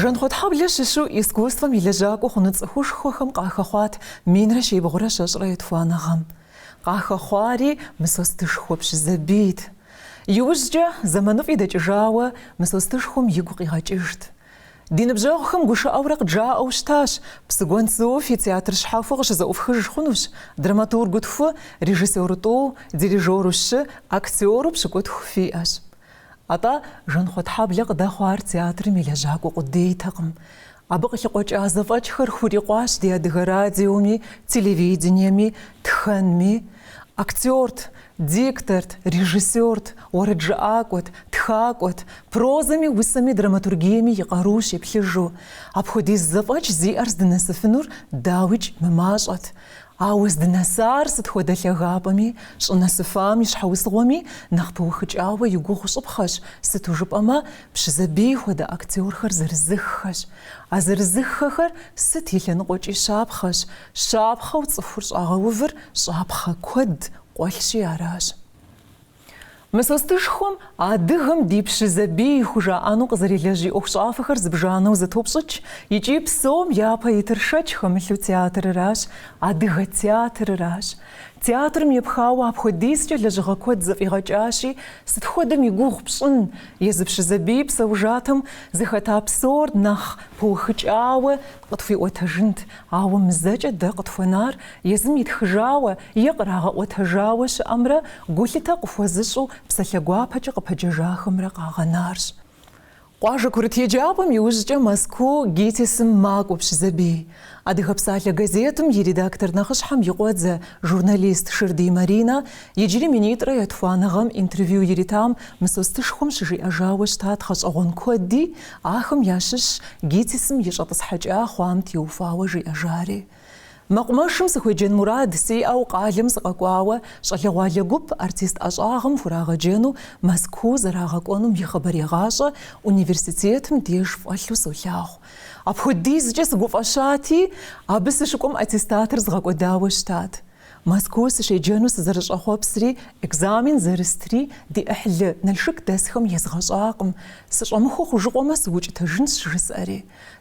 Жанхъуэтхьэблэ щыщу искусствэм и лэжьакӏуэ хъуну цӏыхушхуэхэм къахэхъуат минрэ щибгъурэ щэщӏрэ етхуанэ гъэм. Къахэхъуари Мысостышхуэ Пщызэбийт. Иужькӏэ, зэманыфӏи дэкӏыжауэ, Мысостышхуэм игу къигъэкӏыжт. Ди ныбжьэгъухэм гушыӏэурэ къыджаӏэу щытащ, Псыгуэнсу фи театр щхьэхуэ къыщызэӏуфхыж хъунущ, драматургу тху, режиссёру тӏу, дирижёру щы, актёру пщыкӏутху фиӏэщ. Атӏэ, Жанхъуэтхьэблэ къыдэхъуар театрым и лэжьакӏуэ къудейтэкъым. Абы къылъыкъуэкӏа зэфӏэкӏхэр хурикъуащ ди Адыгэ радиоми, телевидениеми, тхэнми. Актёрт, дикторт, режиссёрт, уэрэджыӏакӏуэт, тхакӏуэт, прозэми, усэми, драматургиеми и къару щеплъыжу. Апхуэдиз зэфӏэкӏ зиӏэр здынэсыфынур, дауикӏ, мымащӏэт. Ауэ здынэсар сыт хуэдэ лъагапӏэми, щӏынэсыфам и щхьэусыгъуэми нэхъ пыухыкӏауэ и гугъу щӏыпхъэщ, сыту жыпӏэмэ, Пщызэбий хуэдэ актёрхэр зэрызыххэщ. А зэрызыххэхэр сыт и лъэныкъуэкӏи щапхъэщ, Щапхъэу цӏыхур щӏагъэувыр щӏапхъэ куэд къуэлъщи аращ. Мысостышхуэм адыгэм ди Пщызэбий хужаӏэну къызэрилэжь и ӏуэхущӏафэхэр зыбжанэу зэтопщӏыкӏ икӏи псом япэ итыр шэч хэмылъу театрыращ, адыгэ театрыращ. Театрым епхауэ апхуэдизкӏэ лэжьыгъэ куэд зэфӏигъэкӏащи, сыт хуэдэм и гугъу пщӏын, езы Пщызэбий псэужатэм зыхэта псор нэхъ пыухыкӏауэ Къытхуиӏуэтэжынт, ауэ мызэкӏэ дэ къытхуэнар езым итхыжауэ е кърагъэӏуэтэжауэ щыӏэмрэ гулъытэ къыхуэзыщӏу псалъэ гуапэкӏэ къыпэджэжахэмрэ къагъэнарщ. Къуажэ курыт еджапӏэм иужькӏэ Мэзкуу ГИТИС-м макӏуэ Пщызэбий. Адыгэ псалъэ газетым и редактор нэхъыщхьэм и къуэдзэ, журналист Шырдий Маринэ иджыри минитӏрэ етхуанэ гъэм интервью иритам Мысостышхуэм щыжиӏэжауэ щытат гъэщӏэгъуэн куэди Ахэм ящыщщ ГИТИС-м и щӏэтӏысхьэкӏа хъуам теухуауэ жиӏэжари. Мэкъумэшым сыхуеджэн мурад сиӏэу къалэм сыкъэкӏуауэ щӏалэгъуалэ гуп артист ӏэщӏагъэм хурагъэджэну Мэзкуу зэрагъэкӏуэнум и хъыбарегъащӏэ университетым деж фӏэлъу солъагъу. Апхуэдизкӏэ сыгуфӏэщати, абы сыщыкӏуэм аттестатыр згъэкӏуэдауэ щытат. Мэзкуу сыщеджэну сызэрыщӏэхъуэпсри, экзамен зэрыстри, ди ӏыхьлы, Налшык дэсхэм езгъэщӏакъым. Сыщӏэмыхуэ хъужыкъуэмэ, сыукӏытэжынщ, жысӏэри.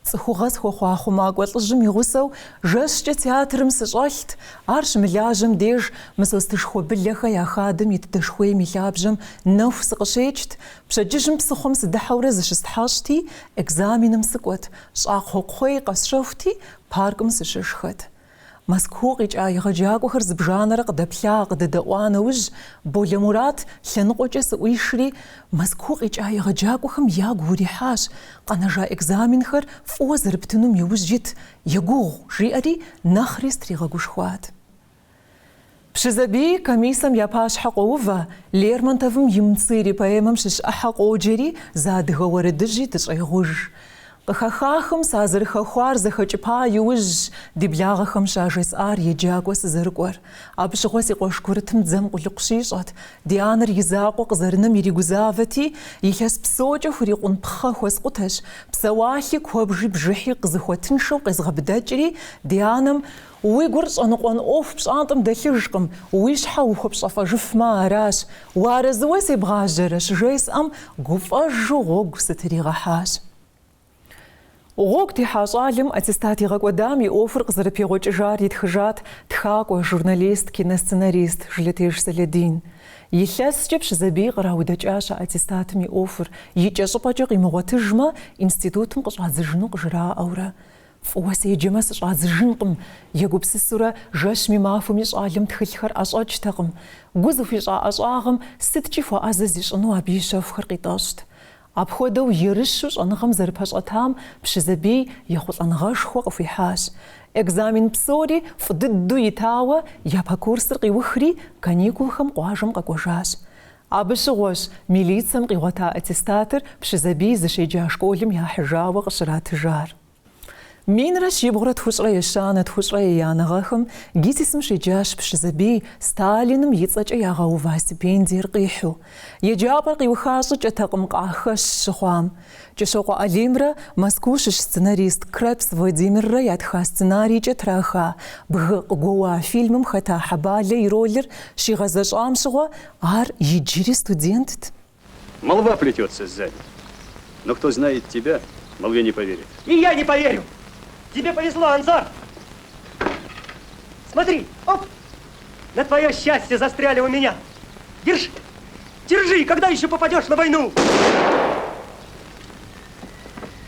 Цӏыхугъэ схуэхъуа хъумакӏуэ лӏыжьым и гъусэу жэщкӏэ театрым сыщӏэлът, ар щымылажьэм деж Мысостышхуэ Былэхэ я хадэм ит дэшхуейм и лъабжьэм нэху сыкъыщекӏт, пщэдджыжьым псыхъуэм сыдыхьэурэ зыщыстхьэщӏти, экзаменым сыкӏуэт, щӏакхъуэ кхъуей къэсщэхути, паркым сыщышхэт. Мэзкуу къикӏа егъэджакӏуэхэр зыбжанэрэ къыдэплъа, къыдэдэӏуа нэужь, Болэ Мурат лъэныкъуэкӏэ сыӏуишри, Мэзкуу къикӏа егъэджакӏуэхэм ягу урихьащ, къэнэжа экзаменхэр фӏыуэ зэрыптынум иужь ит, егугъу, жиӏэри нэхъри сытригъэгушхуат. Пщызэбий комиссэм я пащхьэ къоувэ, Лермонтовым и Мцыри поэмэм щыщ ӏыхьэ къоджэри зы адыгэ уэрэдыжьи дыщӏегъуж. Къыхэхахэм сазэрыхэхуар зэхэкӏыпа иужьщ ди благъэхэм щажесӏар еджакӏуэ сызэрыкӏуэр. Абы щыгъуэ си къуэш курытым дзэм къулыкъу щищӏэт, ди анэр и закъуэ къызэрынэм иригузавэти, илъэс псокӏэ хурикъун пхъэ хуэскъутэщ, псэуалъи куэбжи бжыхьи къызыхуэтыншэу къезгъэбыдэкӏри, ди анэм Уи гур щӏэныкъуэн ӏуэху пщӏантӏэм дэлъыжкъым, уи щхьэ ухуэпщэфӏэжыфмэ аращ, уарэзыуэ себгъажьэрэ, щыжесӏэм, гуфӏэжу гъуэгу сытригъэхьащ. Гъуэгу техьа щӏалэм аттестат игъэкӏуэдам и ӏуэхур къызэрыпегъуэкӏыжар итхыжат тхакӏуэ, журналист, киносценарист Жылэтеж Сэлэдин. Илъэскӏэ Пщызэбий къраудэкӏащ а аттестатым и ӏуэхур, икӏэщӏыпӏэкӏэ къимыгъуэтыжмэ, институтым къыщӏадзыжыну къыжраӏэурэ. Фӏыуэ седжэмэ, сыщӏадзыжынкъым, егупсысурэ, жэщми махуэми щӏалэм тхылъхэр ӏэщӏэкӏтэкъым. Гу зыхуищӏа ӏэщӏагъэм сыткӏи хуэӏэзэ зищӏыну абы и щэхухэр къитӏэщӏт. Апхуэдэу ерыщу щӏэныгъэм зэрыпэщӏэтам Пщызэбий ехъулӏэныгъэшхуэ къыхуихьащ. Экзамен псори фӏы дыдэу итауэ, япэ курсыр къиухри, каникулхэм къуажэм къэкӏуэжащ. Абы щыгъуэщ милицэм къигъуэта аттестатыр Пщызэбий зыщеджа школым яхьыжауэ къыщратыжар. Минрэ щибгъурэ тхущӏрэ ещанэ, тхущӏрэ еянэ гъэхэм ГИТИС-м щеджащ Пщызэбий, Сталиным и цӏэкӏэ ягъэува стипендиер къихьу. Еджапӏэр къиуха щӏыкӏэтэкъым къахэщ щыхъуам. Кӏыщокъуэ Алимрэ Мэзкуу щыщ сценарист Крепс Владимиррэ ятха сценарийкӏэ траха Бгы къыгуэуа фильмым хэта Хьэбалэ и ролыр щигъэзэщӏам щыгъуэ ар иджыри студентт. Молва плетется сзади, но кто знает тебя, молве не поверит. И я не поверю! Тебе повезло, Анзор! Смотри, оп! На твое счастье застряли у меня. Держи, держи, когда еще попадешь на войну?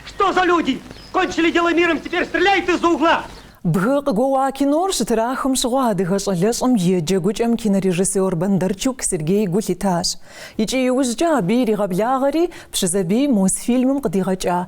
Что за люди? Кончили дело миром, теперь стреляют из-за угла. Бгы къыгуэуа кинор щытрахым щыгъуэ адыгэ щӏалэщӏэм и джэгукӏэм кинорежиссер Бондарчук Сергей гу лъитащ. Икӏи иужькӏэ абы иригъэблагъэри Пщызэбий Мосфильмым къыдигъэкӏа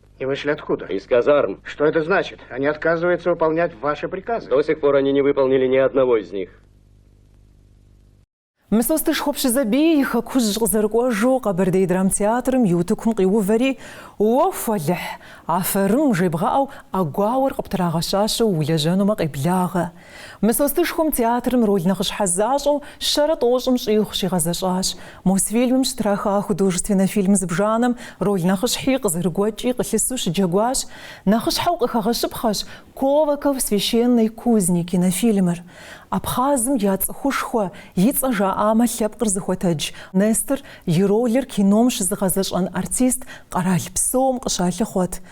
И вышли откуда? Из казарм. Что это значит? Они отказываются выполнять ваши приказы. До сих пор они не выполнили ни одного из них. Мысостышхуэ Пщызэбий и хэкужь къызэрыкӏуэжу Къэбэрдей драмтеатрым и утыкум къиувэри, Уэху, Алыхь, афэрым! жебгъэӏэу ӏэгуауэр къыптрагъэщащэу улэжьэнумэ къеблагъэ. Мысостышхуэм театрым роль нэхъыщхьэ защӏэу щэрэ тӏощӏым щӏигъу щигъэзэщӏащ. Мосфильмым щытраха художественнэ фильм зыбжанэм роль нэхъыщхьи къызэрыгуэкӏи къылъысу щыджэгуащ. Нэхъыщхьэу къыхэгъэщыпхъэщ Колокол священной кузни кинофильмыр. Абхъазым я цӏыхушхуэ, и цӏэ жаӏамэ лъэпкъыр зыхуэтэдж Нестор и ролыр кином щызыгъэзэщӏэн артист къэрал псом къыщалъыхъуэт.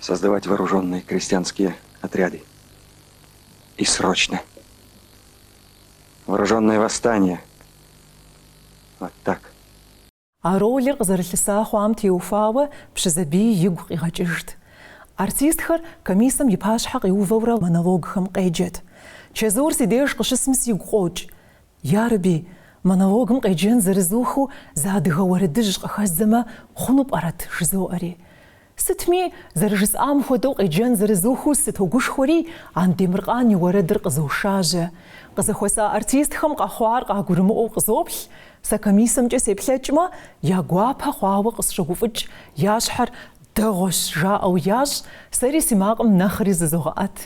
создавать вооруженные крестьянские отряды и срочно вооруженное восстание. Вот так. А ролыр къызэрылъыса хъуам теухуауэ Пщызэбий игу къигъэкӏыжт. Артистхэр комиссэм и пащхьэ къиувэурэ монологхэм къеджэт. Чэзур си деж къыщысми сигу къокӏ. Ярэби, монологым къеджэн зэрызухыу зы адыгэ уэрэдыжь къыхэздзэмэ, хъуну пӏэрэт? жызоӏэри. Сытми, зэрыжысӏам хуэдэу къеджэн зэрызухыу сытогушхуэри, Андемыркъан и уэрэдыр къызошажьэ. Къызэхуэса артистхэм къэхъуар къагурымыӏуэу къызоплъ, сэ комиссэмкӏэ сеплъэкӏмэ, я гуапэ хъуауэ къысщогуфӏыкӏ, я щхьэр дэгъуэщ жаӏэу ящӏ, сэри си макъым нэхъри зызогъэӏэт.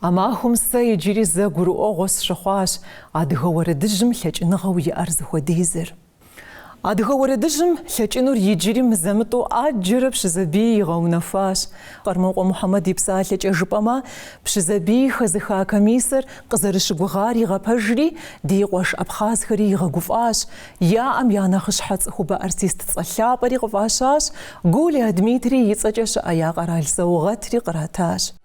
А махуэм сэ иджыри зэ гурыӏуэгъуэ сщыхъуащ адыгэ уэрэдыжьым лъэкӏыныгъэу иӏэр зыхуэдизыр. Адыгэ уэрэдыжьым лъэкӏынур иджыри мызэ-мытӏэу ӏэджэрэ Пщызэбий игъэунэхуащ. Къэрмокъуэ Мухьэмэд и псалъэкӏэ жыпӏэмэ, Пщызэбий хэзыха комиссэр къызэрыщыгугъар игъэпэжри, ди къуэш абхъазхэри игъэгуфӏащ, яӏэм я нэхъыщхьэ цӏыхубэ артист цӏэ лъапӏэри къыфӏащащ, Гулиа Дмитрий и цӏэкӏэ щыӏэ я къэрал саугъэтри къратащ.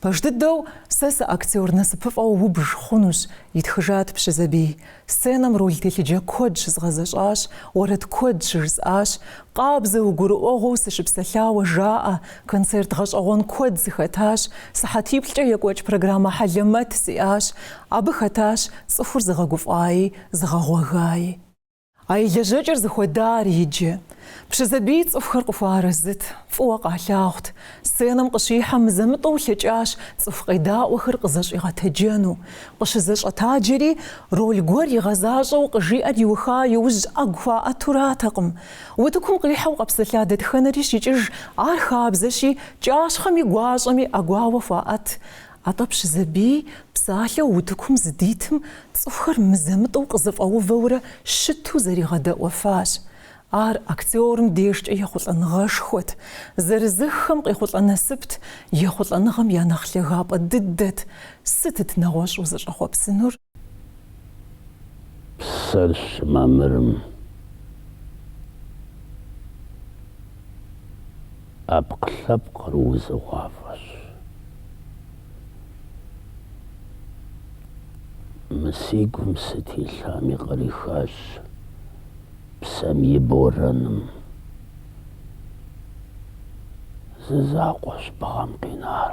Пэж дыдэу сэ сыактер насыпыфӏэу убж хъунущ, итхыжат Пщызэбий. Сценэм роль телъыджэ куэд щызгъэзэщӏащ, уэрэд куэд щыжысӏащ. Къабзэу, гурыӏуэгъуэу сыщыпсэлъауэ жаӏэ, концерт гъэщӏэгъуэн куэд сыхэтащ, сыхьэтиплӏкӏэ екӏуэкӏ программэ хьэлэмэт сиӏащ. Абы хэтащ цӏыхур зыгъэгуфӏаи, зыгъэгъуэгаи. А и лэжьэкӏэр зыхуэдар иджы. Пщызэбий цӏыхухэр къыхуэарэзыт, фӏыуэ къалъагъут. Сценэм къыщихьэм, мызэ-мытӏэу лъэкӏащ цӏыху къедаӏуэхэр къызэщӏигъэтэджэну. Къыщызэщӏэтаджэри, роль гуэр игъэзащӏэу къыжиӏэр иуха иужь ӏэгу хуаӏэту аратэкъым. Утыкум къихьэу къэпсэлъа дэтхэнэри щикӏыж, ар хабзэщи, кӏащхъэми гуащӏэми ӏэгуауэ хуаӏэт. Атӏэ Пщызэбий псалъэу утыкум здитым цӏыхухэр мызэ-мытӏэу къызэфӏэувэурэ щыту зригъэдэӏуэфащ. Ар актёрым дежкӏэ ехъулӏэныгъэшхуэт, зырызыххэм къехъулӏэ насыпт, ехъулӏэныгъэм я нэхъ лъагапӏэ дыдэт. Сытыт нэгъуэщӏу зыщӏэхъуэпсынур? псэр щымамырым, ӏэпкълъэпкъыр узыгъуафӏэщ. Мы си гум сыт илъами кърихащ псэм и борэным. Зы закъуэщ бгъэм къинар.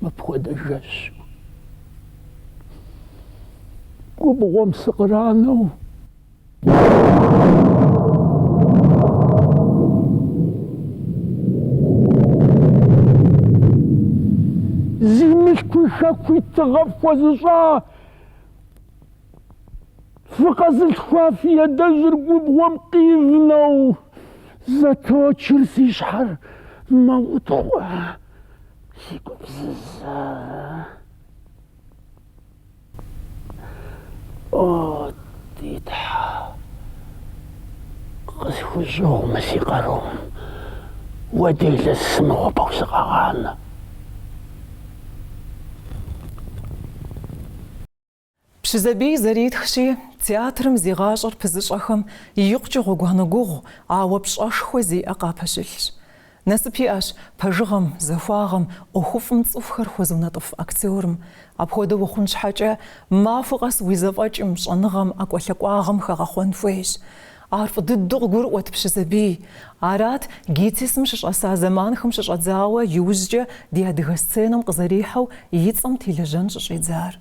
мыпхуэдэ жэщу губгъуэм сыкъранэу зи мылъкуи хэкуи тыгъэ фхуэзыщӏа Фыкъэзылъхуа фи адэжьыр губгъуэм къивнэу. Зэточыр си щхьэр, мэутхъуэ си гупсысэр. О, ди Тхьэ, къысхущӏыгъу мы си къарум, Уэ делэ сымыхъупэу сыкъэгъанэ. Пщызэбий зэритхщи, театрым зи гъащӏэр пызыщӏэхэм икъукӏэ гъуэгуанэ гугъу, ауэ пщӏэшхуэ зиӏэ къапэщылъщ. Насып иӏэщ пэжыгъэм, захуагъэм, ӏуэхуфӏым цӏыхухэр хуэзыунэтӏыф актерым. Апхуэдэу ухъун щхьэкӏэ, махуэ къэс уи зэфӏэкӏым, щӏэныгъэм, ӏэкӏуэлъакӏуагъэм хэгъэхъуэн хуейщ. Ар фӏы дыдэу къыгурыӏуэт Пщызэбий. Арат ГИТИС-м щыщӏэса зэманхэм щыщӏэдзауэ иужькӏэ ди адыгэ сценэм къызэрихьэу и цӏэм телэжьэн щӏыщӏидзар.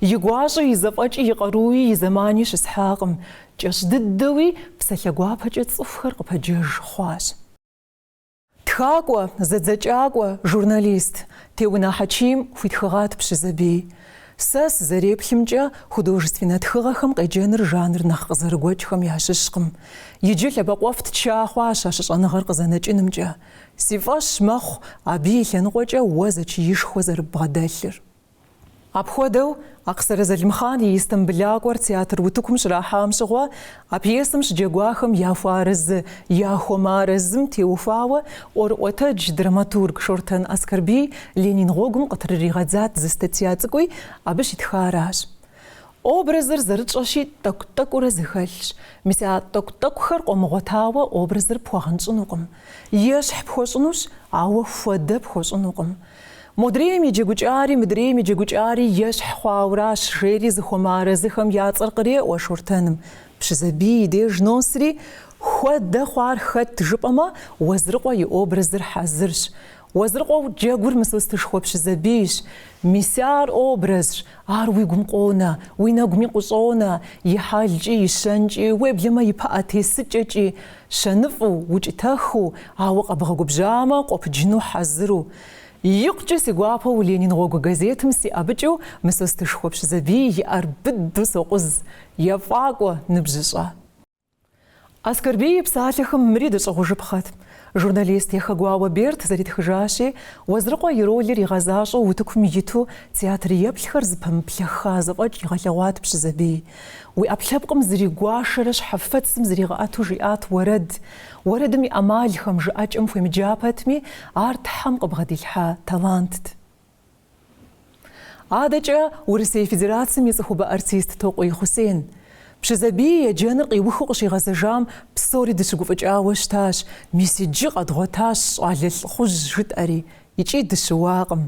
И гуащӏи, и зэфӏэкӏи, и къаруи, и зэмани щысхьакъым. Кӏэщӏ дыдэуи, псалъэ гуапэкӏэ цӏыхухэр къыпэджэж хъуащ. Тхакӏуэ, зэдзэкӏакӏуэ, журналист, Теунэ Хьэчим хуитхыгъат Пщызэбий. Сэ сызэреплъымкӏэ, художественнэ тхыгъэхэм къеджэныр жанр нэхъ къызэрыгуэкӏхэм ящыщкъым. Иджы лъэбакъуэфӏ ча хъуащ а щыщӏэныгъэр къызэнэкӏынымкӏэ. Си фӏэщ мэхъу абы и лъэныкъуэкӏэ уэ зэчиишхуэ зэрыббгъэдэлъыр. Апхуэдэу, Акъсырэ Залымхъан и Истамбылакӏуэр театр утыкум щрахьам щыгъуэ, а пьесэм щыджэгуахэм яхуэарэзы, яхуэмыарэзым теухуауэ ӏуэрыӏуэтэдж драматург Шортэн Аскэрбий Ленин гъуэгум къытрыригъэдзат зы статья цӏыкӏуи абы щитхаращ. Образыр зэрытщӏэщи тӏэкӏу-тӏэкӏуурэ зэхэлъщ. Мис а тӏэкӏу-тӏэкӏухэр къомыгъуэтауэ образыр пхуэгъэнщӏынукъым. Ещхь пхуэщӏынущ, ауэ хуэдэ пхуэщӏынукъым. Модрейм и джэгукӏари, мыдрейм и джэгукӏари ещхь хъуауращ, жери зыхуэмыарэзыхэм я цӏэр къреӏуэ Шортэным. Пщызэбий и деж носри, Хуэдэ хъуар хэт жыпӏэмэ, Уэзрыкъуэ и образыр хьэзырщ. Уэзрыкъуэу джэгур Мысостышхуэ Пщызэбийщ. Мис ар образщ, Ар уи гум къонэ, уи нэгуми къыщӏонэ, и хьэлкӏи, и щэнкӏи, уеблэмэ и пыӏэ тесыкӏэкӏи, щэныфӏу, укӏытэхыу, ауэ къэбгъэгубжьамэ, къопыджыну хьэзыру. Икъукӏэ си гуапэу Ленин гъуэгу газетым сиӏэбыкӏыу Мысостышхуэ Пщызэбий и ӏэр быдэу сокъуз, ефӏакӏуэ, ныбжьыщӏэ. Аскэрбий и псалъэхэм мыри дыщӏыгъужыпхъэт. Журналист Яхэгуауэ Берд зэритхыжащи, Уэзрыкъуэ и ролыр игъэзащӏэу утыкум иту театр еплъхэр зыпэмыплъэхха зэфӏэкӏ игъэлъэгъуат Пщызэбий. Уи ӏэпкълъэпкъым зригуашэрэ щхьэфэцым зригъэӏэту жиӏат уэрэд. Уэрэдым и ӏэмалхэм, жыӏэкӏэм хуемыджа пэтми, ар Тхьэм къыбгъэдилъхьа талантт. Адэкӏэ Урысей Федерацэм и цӏыхубэ артист Токъуий Хъусен. Пщызэбий еджэныр къиухыу къыщигъэзэжам псори дыщыгуфӏыкӏауэ щытащ, мис иджы къэдгъуэтащ щӏалэ лӏыхъужь жытӏэри, икӏи дыщыуакъым.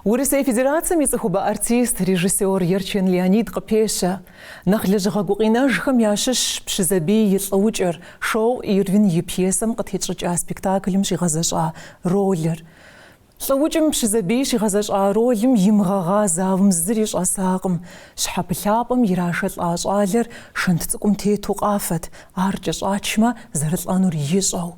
Урысей Федерацэм и цӏыхубэ артист, режиссёр Ерчэн Леонид къыпещэ, нэхъ лэжьыгъэ гукъинэжхэм ящыщщ Пщызэбий и Лӏыукӏыр, Шоу Ирвин и пьесэм къытетщӏыкӏа спектаклым щигъэзэщӏа ролыр. Лӏыукӏым Пщызэбий щигъэзэщӏа ролым имыгъэгъа залым зыри щӏэсакъым. Щхьэпылъапӏэм ирашэлӏа щӏалэр шэнт цӏыкӏум тету къафэт, ар кӏэщӏачмэ, зэрылӏэнур ищӏэу.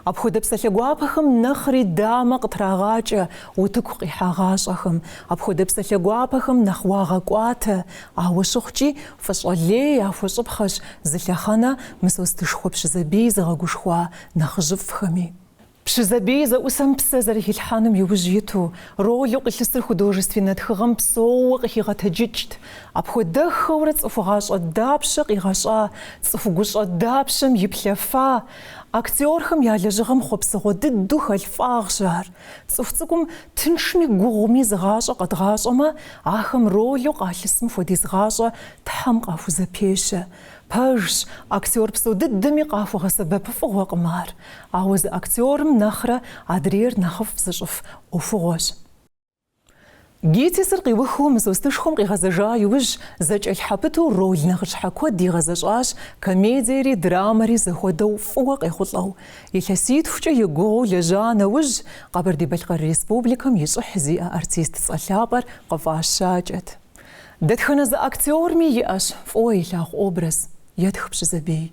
Апхуэдэ псалъэ гуапэхэм нэхъри дамэ къытрагъакӏэ утыку къихьагъащӏэхэм. Апхуэдэ псалъэ гуапэхэм нэхъ уагъэкӏуатэ, ауэ щыхъукӏи, фӏыщӏэ лей яхуэщӏыпхъэщ зы лъэхъэнэ Мысостышхуэ Пщызэбий зыгъэгушхуа нэхъыжьыфӏхэми. Пщызэбий зэӏусэм псэ зэрыхилъхьэным иужь иту, ролу къилъысыр художественнэ тхыгъэм псэууэ къыхигъэтэджыкӏт. Апхуэдэххэурэ цӏыху гъащӏэ дапщэ къигъэщӏа, цӏыху гущӏэ дапщэм иплъэфа, актёрхэм я лэжьыгъэм хъуэпсыгъуэ дыдэу хэлъ фӏагъщ ар. Цӏыху цӏыкӏум тыншми гугъуми зы гъащӏэ къэдгъащӏэмэ, ахэм ролу къалъысым хуэдиз гъащӏэ Тхьэм къахузэпещэ. Пэжщ, актер псо дыдэми къахуэгъэсэбэпыфӏыгъуэкъым ар. Ауэ зы актерым нэхърэ адрейр нэхъыфӏ зыщӏыф ӏуэхугъуэщ. ГИТИС-р къиухыу Мысостышхуэм къигъэзэжа иужь, зэкӏэлъхьэпыту роль нэхъыщхьэ куэд игъэзэщӏащ, комедиери, драмэри зэхуэдэу фӏыуэ къехъулӏэу. Илъэситхукӏэ егугъуу лэжьа нэужь, Къэбэрдей-Балъкъэр Республикэм и щӏыхь зиӏэ артист цӏэ лъапӏэр къыфӏащакӏэт. Дэтхэнэ зы актерми иӏэщ фӏыуэ илъагъу образ, етх Пщызэбий.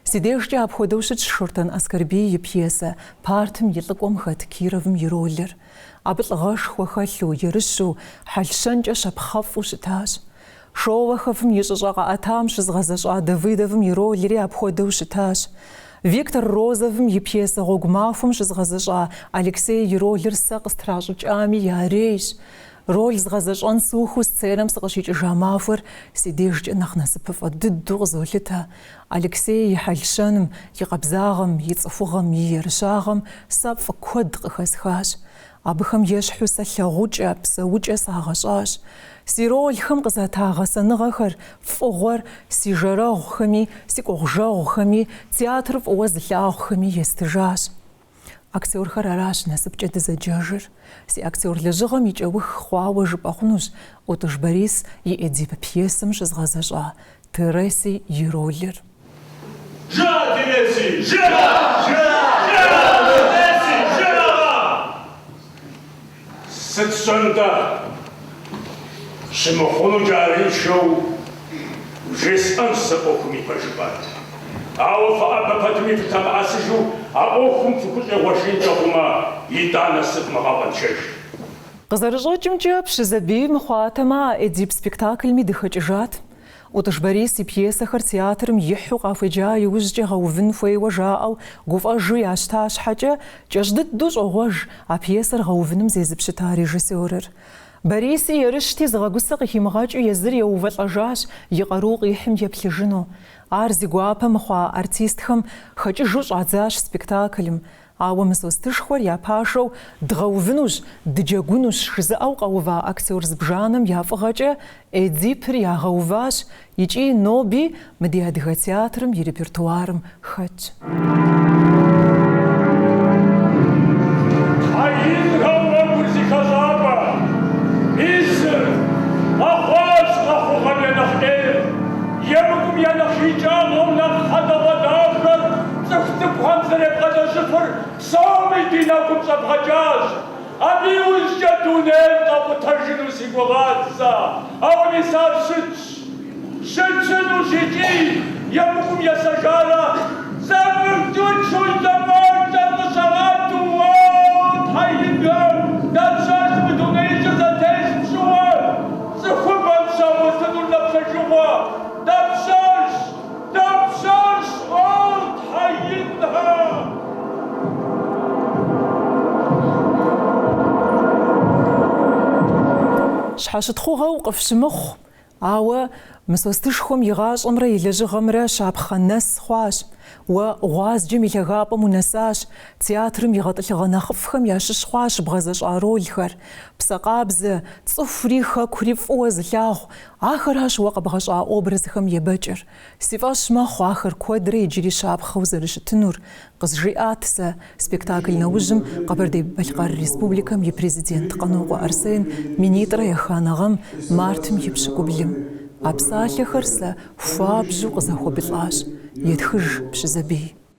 Си дежкӏэ апхуэдэу щытщ Шортэн Аскэрбий и пьесэ Партым и лӏыкӏуэм хэт Кировым и ролыр. Абы лӏыгъэшхуэ хэлъу, ерыщу, хьэл-щэнкӏэ щапхъэфӏу щытащ. Шолоховым и щӏыщӏэ къэӏэтам щызгъэзэщӏа Давыдовым и ролри апхуэдэу щытащ. Виктор Розовым и пьесэ Гъуэгу махуэм щызгъэзэщӏа Алексей и ролыр сэ къыстращӏыкӏами ярейщ. Роль згъэзэщӏэн сухыу сценэм сыкъыщикӏыжа махуэр си дежкӏэ нэхъ насыпыфӏэ дыдэу къызолъытэ. Алексей и хьэл-щэным, и къабзагъэм, и цӏыхугъэм, и ерыщагъэм сэ фӏы куэд къыхэсхащ. Абыхэм ещхьу сэ лъагъукӏэ, псэукӏэ сагъэщӏащ. Си рольхэм къызэта гъэсэныгъэхэр, фӏыгъуэр си жэрэгъухэми, си кӏуэгъужэгъухэми, театр фӏыуэ зылъагъухэми естыжащ. Актёрхэр аращ насыпкӏэ дызэджэжыр. Си актёр лэжьыгъэм и кӏэух хъуауэ жыпӏэ хъунущ Ӏутӏыж Борис и Эдип пьесэм щызгъэзэщӏа Тереси и ролыр. Жыӏэ, Тереси, жыӏэ! Жыӏэ, Тереси, жыӏэ-а! Сыт щӏэн-тӏэ, щымыхъунукӏэ арыншэу, вжесӏэнщ сэ ӏуэхум и пэжыпӏэр. Ауэ фыӏэбэ пэтми фылъэмыӏэсыжу а ӏуэхум фыхущӏегъуэжынкӏэ хъумэ, итӏанэ сывмыгъэкъуэншэж. Къызэрыщӏэкӏымкӏэ, Пщызэбий мыхъуатэмэ, а Эдип спектаклми дыхэкӏыжат. Ӏутӏыж Борис и пьесэхэр театрым ихьу къахуеджа иужькӏэ гъэувын хуейуэ жаӏэу гуфӏэжу ящта щхьэкӏэ, кӏэщӏ дыдэу щӏогъуэж а пьесэр гъэувыным зезыпщыта режиссёрыр. Бориси ерыщти, зыгъэгусэ къыхимыгъэкӏыу езыр еувэлӏэжащ и къару къихьым еплъыжыну. Ар зи гуапэ мыхъуа артистхэм хэкӏыжу щӏадзащ спектаклым. Ауэ Мысостышхуэр я пашэу дгъэувынущ, дыджэгунущ жызыӏэу къэува актер зыбжанэм я фӏыгъэкӏэ Эдипыр ягъэуващ икӏи ноби мы ди адыгэ театрым и репертуарым хэтщ. Цӏыху цӏыкӏухэм зэребгъэдэщӏыфыр псоми ди нэкӏум щӏэбгъэкӏащ. Абы иужькӏэ дунейр къэкъутэжыну си гугъат сэ, ауэ мис ар щытщ. Щытщынущ икӏи, емыкӏум есэжарэ, сэ мыхьчӏычу зэфӏэкӏыр къыщагъэту, уоу, тхьэ инхэм, дапщэщ мы дунеижьыр зэтес пщӏыуэ цӏыхубэм щагъуэтынур напщэжыгъуэ, дапщэщ? Дапщэщ ар, Тхьэ Инхэ? Щхьэщытхъугъэу къыфщымыхъу, ауэ Мысостышхуэм и гъащӏэмрэ и лэжьыгъэмрэ щапхъэ нэс хъуащ. Уэ гъуазджэм и лъагапӏэм унэсащ, театрым и гъэтӏылъыгъэ нэхъыфӏхэм ящыщ хъуащ бгъэзэщӏа ролхэр. Псэ къабзэ, цӏыхури хэкури фӏыуэ зылъагъу, Ахэращ уэ къэбгъэщӏа образхэм ебэкӏыр. Си фӏэщ мэхъу ахэр куэдрэ иджыри щапхъэу зэрыщытынур, къызжиӏат сэ спектакль нэужьым Къэбэрдей-Балъкъэр Республикэм и Президент Къанокъуэ Арсен минитӏрэ еханэ гъэм, мартым и пщыкӏублым. А псалъэхэр сэ хуабжьу къызэхуэбылӏащ, етхыж Пщызэбий.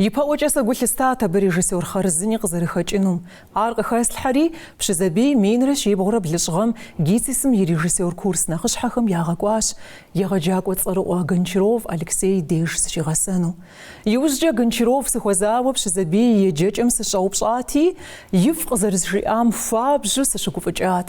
Ипэӏуэкӏэ сэ гу лъыстат абы режиссёр хъарзыни къызэрыхэкӏынум. Ар къыхэслъхьэри, Пщызэбий минрэ щибгъурэ блыщӏ гъэм ГИТИС-м и режиссёр курс нэхъыщхьэхэм ягъэкӏуащ, егъэджакӏуэ цӏэрыӏуэ Гончаров Алексей деж зыщигъэсэну. Иужькӏэ Гончаров сыхуэзауэ Пщызэбий и еджэкӏэм сыщӏэупщӏати, ифӏ къызэрызжиӏам хуабжьу сыщыгуфӏыкӏат.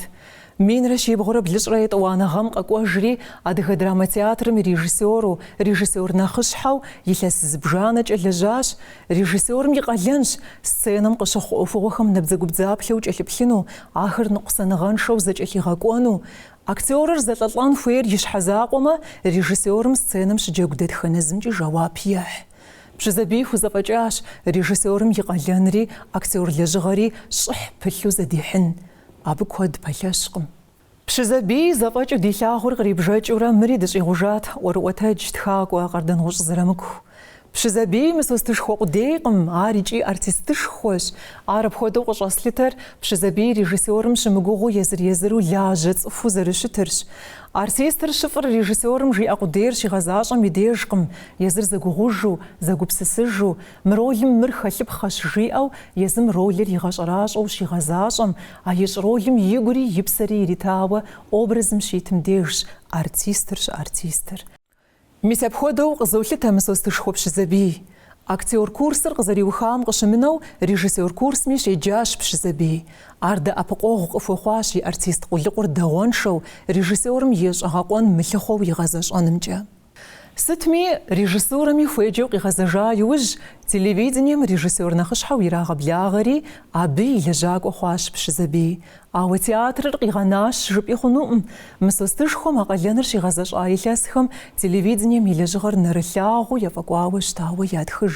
Минрэ щибгъурэ блыщӏрэ етӏуанэ гъэм къэкӏуэжри, Адыгэ драмэ театрым и режиссеру, режиссер нэхъыщхьэу илъэс зыбжанэкӏэ лэжьащ. Режиссерым и къалэнщ сценэм къыщыхъу ӏуэхугъуэхэм набдзэгубдзаплъэу кӏэлъыплъыну, ахэр ныкъусаныгъэншэу зэкӏэлъигъэкӏуэну. Актерыр зэлӏэлӏэн хуейр и щхьэ закъуэмэ, режиссерым сценэм щыджэгу дэтхэнэ зымкӏи жэуап ехь. Пщызэбий хузэфӏэкӏащ режиссерым и къалэнри актер лэжьыгъэри щӏыхь пылъу зэдихьын. Абы куэд пэлъэщкъым. Пщызэбий зэфӏэкӏыу дилъагъур кърибжэкӏыурэ мыри дыщӏигъужат, ӏуэрыӏуэтэдж, тхакӏуэ, Къардэнгъущӏ Зырамыку. Пщызэбий Мысостышхуэ къудейкъым, ар икӏи артистышхуэщ. Ар апхуэдэу къыщӏэслъытэр Пщызэбий режиссерым щымыгугъыу езыр-езыру лажьэ цӏыхуу зэрыщытырщ. Артистыр щыфӏыр режиссерым жиӏэ къудейр щигъэзащӏэм и дежкъым, езыр зэгугъужу, зэгупсысыжу, Мы ролым мыр хэлъыпхъэщ, жиӏэу езым ролыр игъэщӏэращӏэу щигъэзащӏэм, а ищӏ ролым игури и псэри иритауэ образым щитым дежщ артистыр щыартистыр. Мис апхуэдэу къызолъытэ Мысостышхуэ Пщызэбий. Актер курсыр къызэриухам къыщымынэу режиссер курсми щеджащ Пщызэбий. Ар дэӏэпыкъуэгъу къыхуэхъуащ и артист къулыкъур дагъуэншэу, режиссерым и щӏэгъэкъуэн мылъыхъуэу игъэзэщӏэнымкӏэ. Сытми, режиссурэми хуеджэу къигъэзэжа иужь, телевидением режиссер нэхъыщхьэу ирагъэблагъэри, абы и лэжьакӏуэ хъуащ Пщызэбий. Ауэ театрыр къигъэнащ жыпӏи хъунукъым. Мысостышхуэм а къалэныр щигъэзэщӏа илъэсхэм телевидением и лэжьыгъэр нэрылъагъуу ефӏэкӏуауэ щытауэ ятхыж.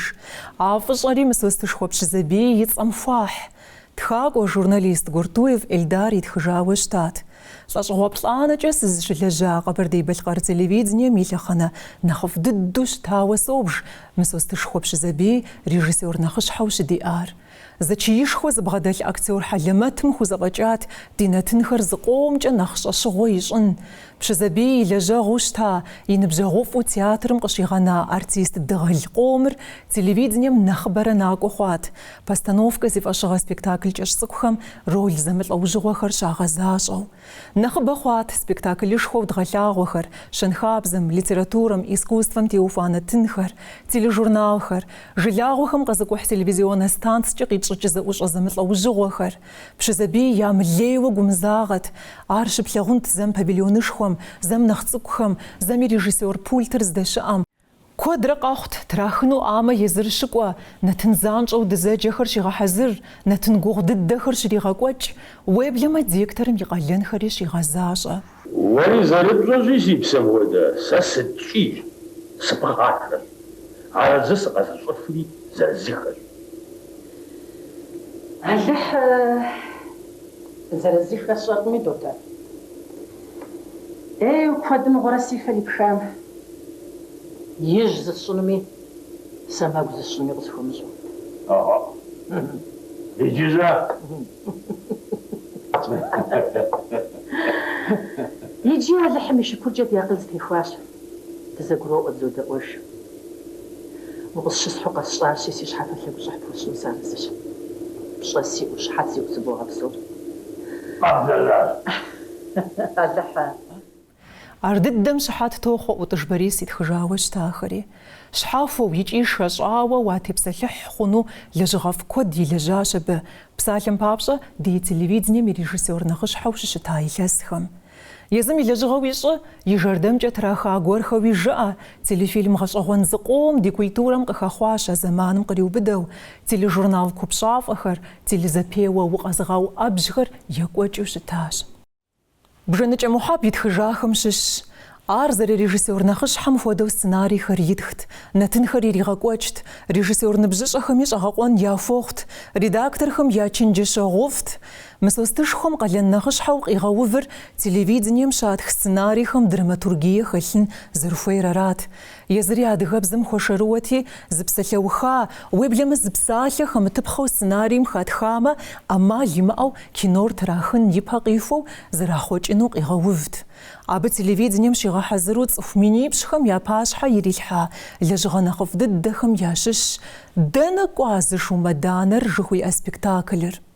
А фӏыщӏэри Мысостышхуэ Пщызэбий и цӏэм хуахь. Тхакӏуэ журналист Гуртуев Эльдар итхыжауэ щытат. Лӏэщӏыгъуэ плӏанэкӏэ сызыщылэжьа Къэбэрдей-Балъкъэр телевидением и лъэхъэнэ нэхъыфӏ дыдэу щытауэ собж Мысостышхуэ Пщызэбий режиссёр нэхъыщхьэу щыдиӏар. Зэчиишхуэ зыбгъэдэлъ актёр хьэлэмэтым хузэфӏэкӏат ди нэтынхэр зыкъомкӏэ нэхъ щӏэщыгъуэ ищӏын. Пщызэбий и лэжьэгъуу щыта, и ныбжьэгъуфӏу театрым къыщигъэна артист дыгъэл къомыр телевидением нэхъыбэрэ накӏуэ хъуат. Постановкэ зи фӏэщыгъэ спектакль кӏэщ цӏыкӏухэм роль зэмылӏэужьыгъуэхэр щагъэзащӏэу. Нэхъыбэ хъуат спектаклышхуэу дгъэлъагъуэхэр, щэнхабзэм, литературэм, искусствэм теухуа нэтынхэр, тележурналхэр, жылагъуэхэм къэзыкӏухь телевизионнэ станцкӏэ къитщӏыкӏ зэӏущӏэ зэмылӏэужьыгъуэхэр. Пщызэбий ямылейуэ гумызагъэт. Ар щыплъагъунт зэм павильонышхуэм, зэм нэхъ цӏыкӏухэм, зэми режиссёр пультыр здэщыӏэм, Куэдрэ къэхъут, трахыну ӏамэ езыр щыкӏуэ, нэтын занщӏэу дызэджэхэр щигъэхьэзыр, нэтын гугъу дыдэхэр щригъэкӏуэкӏ, уеблэмэ директорым и къалэнхэри щигъэзащӏэ. Уэри зэрыпщӏэщи, си псэм хуэдэ, сэ сыткӏий, сыпхъашэщ. Арэзы сыкъэзыщӏыфри зырызыххэщ. Алыхь зырызыххэр сщӏэркъыми, дотэ. Ей, куэдыӏуэрэ си фэр ипхам. Ижь зысщӏынуми, сэмэгу зысщӏынуми къысхуэмыщӏэу. Ӏэхъуэ, иджы-щэ? Иджы Алыхьым и шыкуркӏэ ди акъыл зэтехуащ, дызэгуроӏуэ дызодэӏуэж. Укъысщысхьу къэсщӏащи, си щхьэфэ лъэгущӏыхь пхуэсщӏыну сыарэзыщ. Пщӏэ сиӏэу, щхьэ сиӏэу сыбогъэпсэу. Алыхьэ. Ар дыдэм щыхьэт тохъуэ ӏутӏыж Борис итхыжауэ щытахэри. Щхьэхуэу икӏи шэщӏауэ уатепсэлъыхь хъуну лэжьыгъэфӏ куэд илэжьащ абы, псалъэм папщӏэ, ди телевидением и режиссёр нэхъыщхьэу щыщыта илъэсхэм. Езым и лэжьыгъэуи щӏы, и жэрдэмкӏэ траха гуэрхэуи жыӏэ, телефильм гъэщӏэгъуэн зыкъом ди культурэм къыхэхъуащ а зэманым къриубыдэу, тележурнал купщӏафӏэхэр, телезэпеуэ укъэзыгъэуӏэбжьхэр екӏуэкӏыу щытащ. Бжэныкӏэ Мухьэб итхыжахэм щыщщ. Ар зэрырежиссёр нэхъыщхьэм хуэдэу сценарийхэр итхт, нэтынхэр иригъэкӏуэкӏт, режиссёр ныбжьыщӏэхэми щӏэгъэкъуэн яхуохъут, редакторхэм я чэнджэщэгъуфӏт. Мысостышхуэм къалэн нэхъыщхьэу къигъэувыр телевидением щатх сценарийхэм драматургие хэлъын зэрыхуейр арат. Езыри адыгэбзэм хуэшэрыуэти, зы псалъэуха, уеблэмэ зы псалъэ хэмытыпхъэу сценарием хатхамэ, ӏэмал имыӏэу кинор трахын ипэ къихуэу зэрахъуэкӏыну къигъэувт. Абы телевидением щигъэхьэзыру цӏыху минипщӏхэм я пащхьэ ирилъхьа лэжьыгъэ нэхъыфӏ дыдэхэм ящыщщ Дэнэ кӏуа зы шумэданэр жыхуиӏэ спектаклыр.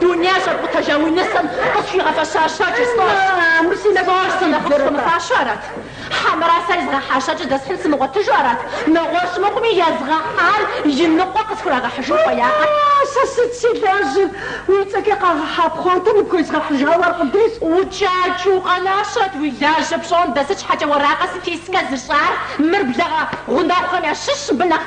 Дуней щӏэпкъутэжа уи нысэм къысхуигъэфэща щэкӏыр си фащэу арат? Хьэмэрэ сэ езгъэхьа щэкӏыр дэсхьын сымыгъуэтыжу арат? Нэгъуэщӏ мыхъуми, езгъэхьар и ныкъуэ къысхурагъэхьыжын хуеякъэ? Сэ сыт си лажьэр? Уи цӏэкӏэ къагъэхьа пхъуантэ ныпхуезгъэхьыжауэ аркъудейс. Укӏакӏ, укъэнащэт, уи лажьэ пщӏон, дэ сыт щхьэкӏэ уэракъэ сэтей сыкъэзыщӏар? Мыр блэгъэ гъунэгъухэм ящыщщ, мыбы нэхъ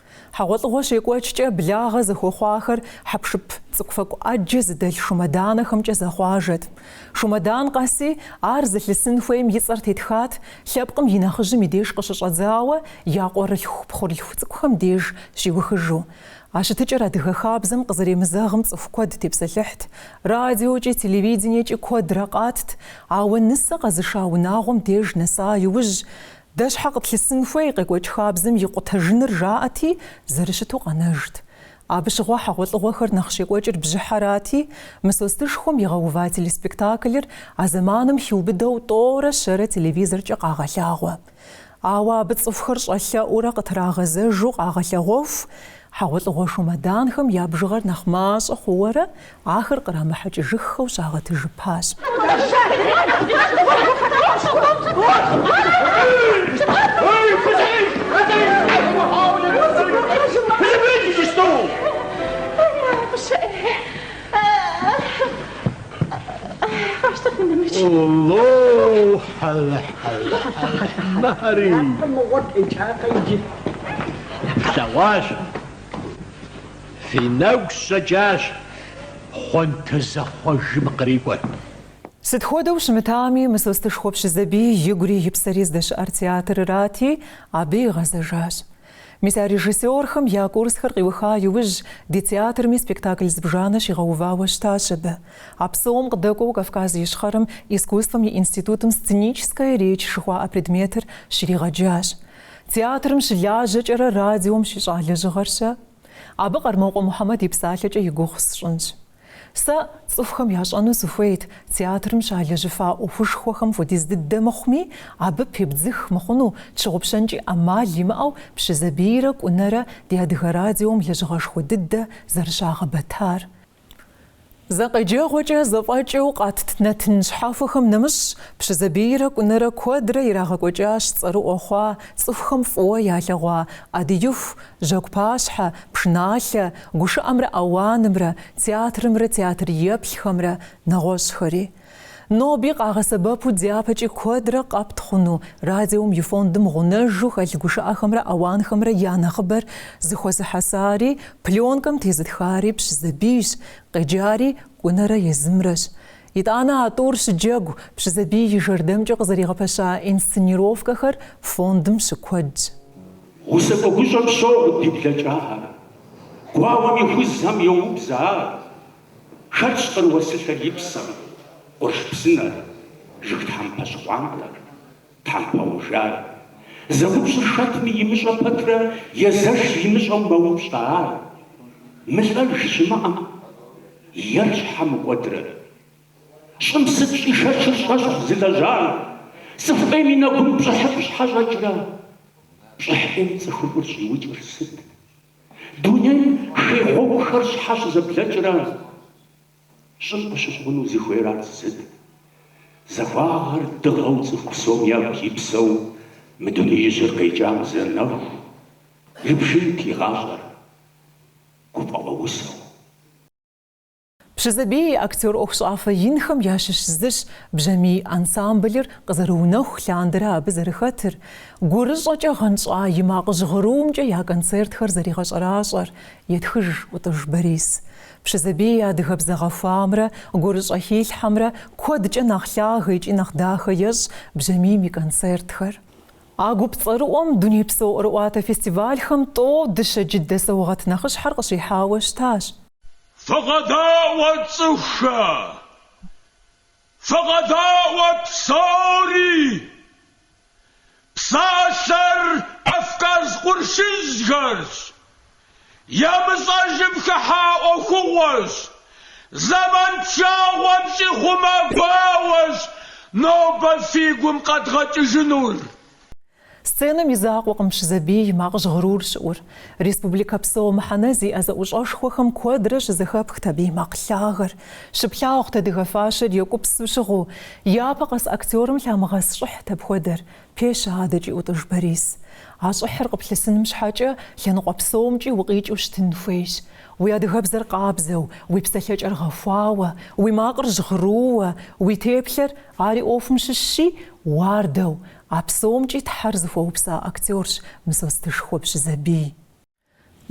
Хьэгъуэлӏыгъуэ щекӏуэкӏкӏэ благъэ зэхуэхъуахэр хьэпшып цӏыкӏуфэкӏу ӏэджэ зыдэлъ шумэданэхэмкӏэ зэхъуажэт. Шумэдан къэси, ар зылъысын хуейм и цӏэр тетхат, лъэпкъым и нэхъыжьым и деж къыщыщӏэдзауэ я къуэрылъху-пхъурылъху цӏыкӏухэм деж щиухыжу. А щытыкӏэр адыгэ хабзэм къызэремызэгъым цӏыху куэд тепсэлъыхьт. Радиокӏи, телевидениекӏи куэдрэ къатт, ауэ нысэ къэзыша унагъуэм деж нэса иужь, Дэ щхьэ къытлъысын хуей къекӏуэкӏ хабзэм и къутэжыныр жаӏэти, зэрыщыту къэнэжт. Абы щыгъуэ хьэгъуэлӏыгъуэхэр нэхъ щекӏуэкӏыр бжьыхьэрати, Мысостышхуэм игъэува телеспектаклыр а зэманым хиубыдэу тӏорэ щэрэ телевизоркӏэ къагъэлъагъуэ. Ауэ абы цӏыхухэр щӏэлъэӏуурэ къытрагъэзэжу къагъэлъэгъуэху, хьэгъуэлӏыгъуэ шумэданхэм я бжыгъэр нэхъ мащӏэ хъууэрэ Ахэр кърамыхьэкӏыжыххэу щагъэтыжыпащ. Фи нэгу щӏэкӏащ пхъуантэ зэхъуэжым кърикӏуэр. Сыт хуэдэу щымытами, Мысостышхуэ Пщызэбий игури и псэри здэщыӏэр театрырати, абы игъэзэжащ. Мис а режиссерхэм я курсхэр къиуха иужь, ди театрми спектакль зыбжанэ щигъэувауэ щытащ абы. А псом къыдэкӏуэу Кавказ Ищхъэрэм искусствэм и институтым сценическая речь жыхуаӏэ предметыр щригъэджащ. Театрым щылажьэкӏэрэ радиом щищӏа лэжьыгъэр-щэ? Абы Къармокъуэ Мухьэмэд и псалъэкӏэ и гугъу сщӏынщ. Сэ цӏыхухэм ящӏэну сыхуейт театрым щалэжьыфа ӏуэхушхуэхэм хуэдиз дыдэ мыхъуми, абы пебдзых мыхъуну тщыгъупщэнкӏи ӏэмал имыӏэу Пщызэбийрэ Кӏунэрэ ди Адыгэ радиом лэжьыгъэшхуэ дыдэ зэрыщагъэбэтар, Зэ къеджэгъуэкӏэ зэфӏэкӏыу къэтт нэтын щхьэхуэхэм нэмыщӏ, Пщызэбийрэ Кӏунэрэ куэдрэ ирагъэкӏуэкӏащ цӏэрыӏуэ хъуа, цӏыхухэм фӏыуэ ялъэгъуа Ӏэдииху, жьэгу пащхьэ, пшыналъэ, гушыӏэмрэ ауанымрэ, театрымрэ театр еплъхэмрэ, нэгъуэщӏхэри. Ноби къагъэсэбэпу дяпэкӏи куэдрэ къэпт хъуну радиом и фондым гъунэжу хэлъ гушыӏэхэмрэ ауанхэмрэ я нэхъыбэр зыхуэзыхьэсари, пленкэм тезытхари Пщызэбийщ, къеджари Кӏунэрэ езымрэщ. Итӏанэ а тӏур щыджэгу Пщызэбий и жэрдэмкӏэ къызэригъэпэща инсценировкэхэр фондым щыкуэдщ. Усакӏуэ гущӏэм щогъу ди блэкӏагъэр. Гуауэм ихузхэм йоубзэ ар, Хэтщ къыр уэсылъэр и псэм, къурш псынэр, жыг тхьэмпэ щхъуантӏэр, тхьэмпэ гъужар. Зэупщӏыр хэтми имыщӏэ пэтрэ езэш имыщӏэу мэупщӏэ ар. Мылӏэж щымыӏэм, ер щхьэ мыкӏуэдрэ. Щӏым сыт щӏишэчыр щӏэщхъу зылэжьар? Цӏыху ӏейм и нэгум пщӏыхьыфӏ щхьэ щӏэкӏрэ? Пщӏыхь ӏейм цӏыхуфӏыр щӏиукӏыр сыт? Дунейм хей гъуэгухэр щхьэ щызэблэкӏрэ щӏым къыщыхъуну зыхуейр ар сыт? Захуагъэр дыгъэу цӏыху псом ягу ипсэу мы дунеижьыр къекӏам зэ нэху, ибжынт и гъащӏэр гуфӏэгъуэ усэу. Пщызэбий и актер ӏуэхущӏафэ инхэм ящыщ зыщ Бжьамий ансамблыр къызэрыунэху лъандэрэ абы зэрыхэтыр, гурыщӏэкӏэ гъэнщӏа и макъ жьгъырумкӏэ я концертхэр зэригъэщӏэращӏэр, етхыж Ӏутӏыж Борис. Пщызэбий и адыгэбзэ гъэхуамрэ гурыщӏэ хилъхьэмрэ куэдкӏэ нэхъ лъагэ икӏи нэхъ дахэ ещӏ Бжьамийм и концертхэр. А гуп цӏэрыӏуэм дунейпсо ӏуэрыӏуатэ фестивальхэм тӏэу дыщэ джыдэ саугъэт нэхъыщхьэр къыщихьауэ щытащ. Фыкъэдаӏуэ, цӏыхухэ! Фыкъэдаӏуэ псори! Псалъэр Кавказ къуршыжьхэрщ, емыщӏэжым хыхьа ӏуэхугъуэщ, зэман пшагъуэм щӏихъумэ гуауэщ нобэ фи гум къэдгъэкӏыжынур. Сценэм и закъуэкъым Пщызэбий и макъ жьгъырур щыӏур. Республикэ псо мыхьэнэ зиӏэ зэӏущӏэшхуэхэм куэдрэ щызэхэпхт абы и макъ лъагэр. Щыплъагъут адыгэ фащэр екӏупсу щыгъыу. Япэ къэс актерым лъамыгъэс щӏыхьт апхуэдэр, пещэ адэкӏи ӏутӏыж Борис. А щӏыхьыр къыплъысыным щхьэкӏэ, лъэныкъуэ псомкӏи укъикӏыу щытын хуейщ. Уи адыгэбзэр къабзэу, уи псэлъэкӏэр гъэхуауэ, уи макъыр жьгъырууэ, уи теплъэр, ари ӏуэхум щыщщи, уардэу, А псомкӏи Тхьэр зыхуэупса актерщ Мысостышхуэ Пщызэбий.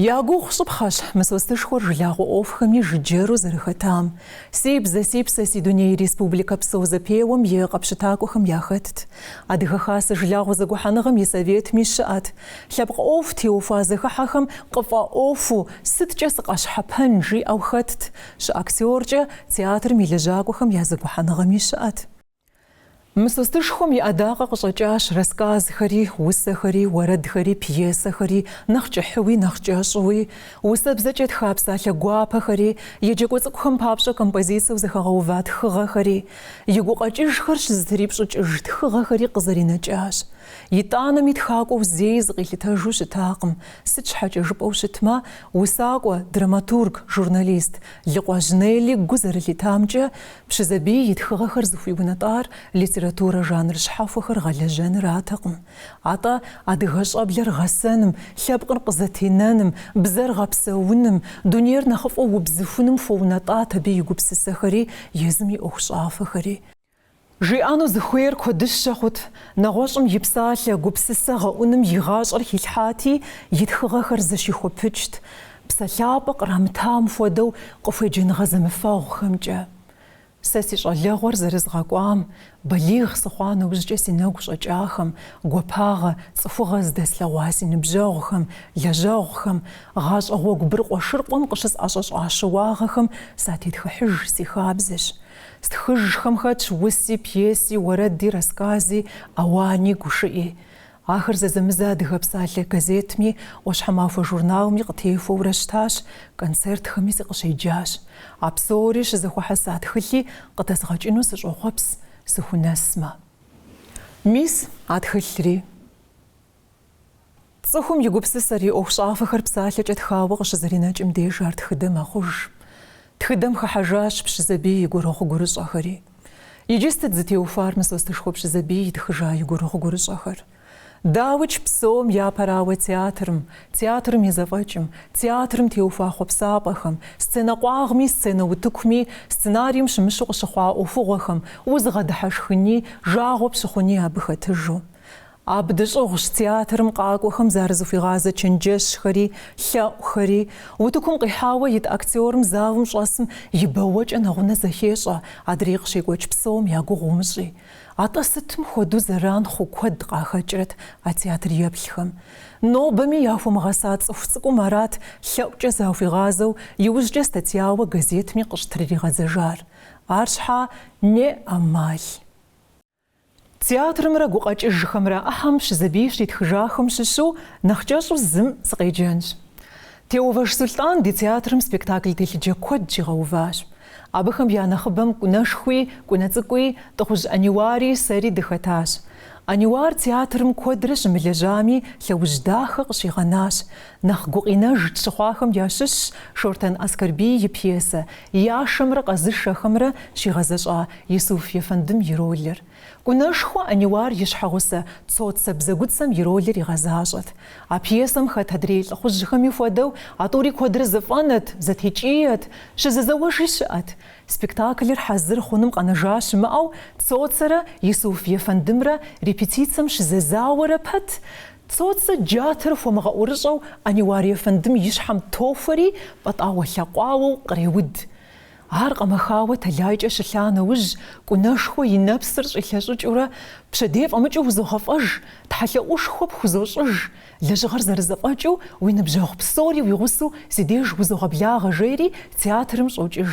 Я гугъу щӏыпхъэщ Мысостышхуэр жылагъуэ ӏуэхухэми жыджэру зэрыхэтам. Си бзэ, си псэ, си дуней республикэ псо зэпеуэм и къэпщытакӏуэхэм яхэтт. Адыгэ Хасэ жылагъуэ зэгухьэныгъэм и Советми щыӏэт. Лъэпкъ ӏуэху теухуа зэхыхьэхэм къыфӏэӏуэхуу, сыткӏэ сыкъэщхьэпэн жиӏэу хэтт. Щыактеркӏэ, театрым и лэжьакӏуэхэм я зэгухьэныгъэми щыӏэт. Мысостышхуэм и ӏэдакъэ къыщӏэкӏащ рассказхэри, усэхэри, уэрэдхэри, пьесэхэри, нэхъ кӏыхьуи, нэхъ кӏэщӏуи, усэбзэкӏэ тха псалъэ гуапэхэри, еджакӏуэ цӏыкӏухэм папщӏэ композицэу зэхэгъэува тхыгъэхэри. И гукъэкӏыжхэр щызэтрипщӏыкӏыж тхыгъэхэри къызэринэкӏащ. Итӏанэми тхакӏуэу зэи зыкъилъытэжу щытакъым, сыт щхьэкӏэ жыпӏэу щытмэ, усакӏуэ, драматург, журналист Лыкъуэжь Нелли гу зэрылъитамкӏэ, Пщызэбий и тхыгъэхэр зыхуиунэтӏар литературэ жанр щхьэхуэхэр гъэлэжьэнратэкъым, атӏэ адыгэ щӏэблэр гъэсэным, лъэпкъыр къызэтенэным, бзэр гъэпсэуным, дунейр нэхъыфӏу убзыхуным хуэунэтӏат абы и гупсысэхэри, езым и ӏуэхущӏафэхэри. Жиӏэну зыхуейр куэдыщэ хъут, нэгъуэщӏым и псалъэ, гупсысэ гъэӏуным и гъащӏэр хилъхьати, и тхыгъэхэр зэщихуэпыкӏт. Псэлъапӏэ кърамытам хуэдэу къыхуеджэныгъэ зэмыфэгъухэмкӏэ. Сэ си щӏалэгъуэр зэрызгъэкӏуам, балигъ сыхъуа нэужькӏэ си нэгу щӏэкӏахэм, гуапагъэ, цӏыхугъэ здэслъэгъуа си ныбжьэгъухэм, лэжьэгъухэм, гъащӏэ гъуэгу быркъуэшыркъуэм къыщысӏэщӏэщӏа щыуагъэхэм сатетхыхьыж си хабзэщ. Стхыжхэм хэтщ уси, пьеси, уэрэди, расскази, ауани, гушыӏи. Ахэр зэзэмызэ Адыгэ псалъэ газетми, ӏуащхьэмахуэ журналми къытехуэурэ щытащ, концертхэми сыкъыщеджащ. А псори щызэхуэхьэса тхылъи къыдэзгъэкӏыну сыщӏохъуэпс, сыхунэсмэ. Мис, а тхылъри. Цӏыхум и гупсысэр, и ӏуэхущӏафэхэр псалъэкӏэ тхауэ къыщызэринэкӏым деж ар тхыдэ мэхъуж. Тхыдэм хыхьэжащ Пщызэбий и гурыгъу-гурыщӏэхэри. Иджы сыт зытеухуар Мысостышхуэ Пщызэбий итхыжа и гурыгъу-гурыщӏэхэр? Дауикӏ псом япэрауэ театрым, театрым и зэфӏэкӏым, театрым теухуа хъуэпсапӏэхэм, сценэ къуагъми, сценэ утыкуми, сценарием щымыщу къыщыхъуа ӏуэхугъуэхэм, узыгъэдыхьэшхыни, жагъуэ пщыхъуни абы хэтыжу. Абы дыщӏыгъущ театрым къакӏуэхэм зарызыхуигъазэ чэнджэщхэри, лъэӏухэри. Утыкум къихьауэ ит актерым залым щӏэсым и бэуэкӏэ нэгъунэ зэхещӏэ, адрей къыщекӏуэкӏ псом я гугъу умыщӏи. Атӏэ сытым хуэдэу зэран хъу куэд къахэкӏрэт а театреплъхэм! Нобэми яхуэмыгъэса цӏыху цӏыкӏум арат лъэӏукӏэ захуигъазэу иужькӏэ статьяуэ газетми къыщытрыригъэдзэжар. Арщхьа, неӏэмал. Театрымрэ гукъэкӏыжхэмрэ ӏыхьэм Пщызэбий щитхыжахэм щыщу нэхъ кӏэщӏу зым сыкъеджэнщ. Теувэж Сулътӏан ди театрым спектакль телъыджэ куэд щигъэуващ. Абыхэм я нэхъыбэм Кӏунэшхуи, Кӏунэ цӏыкӏуи, Тӏыхъужь Ӏэниуари, сэри дыхэтащ. Ӏэниуар театрым куэдрэ щымылэжьами, лъэужь дахэ къыщигъэнащ. Нэхъ гукъинэж тщыхъуахэм ящыщщ Шортэн Аскэрбий и пьесэ Яшэмрэ къэзышэхэмрэ щигъэзэщӏа Исуф ефэндым и ролыр. Кӏунэшхуэ Ӏэниуар и щхьэгъусэ Цоцэ бзэгуцэм и ролыр игъэзащӏэт. А пьесэм хэт адрей лӏыхъужьхэми хуэдэу а тӏури куэдрэ зыфӏэнэт, зэтекӏиет, щызэзэуэжи щыӏэт. Спектаклыр хьэзыр хъуным къэнэжа щымыӏэу Цоцэрэ Исуф ефэндымрэ репетицэм щызэзауэрэ пэт, Цоцэ джатэр хуэмыгъэӏурыщӏэу Ӏэниуар ефэндым и щхьэм тохуэри, пӏэтӏауэ-лъэкъуауэу къреуд. Ар къэмэхауэ тэлайкӏэ щылъа нэужь, Кӏунэшхуэ и нэпсыр щӏилъэщӏыкӏыурэ, Пщэдей фӏэмыкӏыу узогъэфӏэж, тхьэлъэӏушхуэ пхузощӏыж, лэжьыгъэр зэрызэфӏэкӏыу уи ныбжьэгъу псори уи гъусэу си деж узогъэблагъэ, жери театрым щӏокӏыж.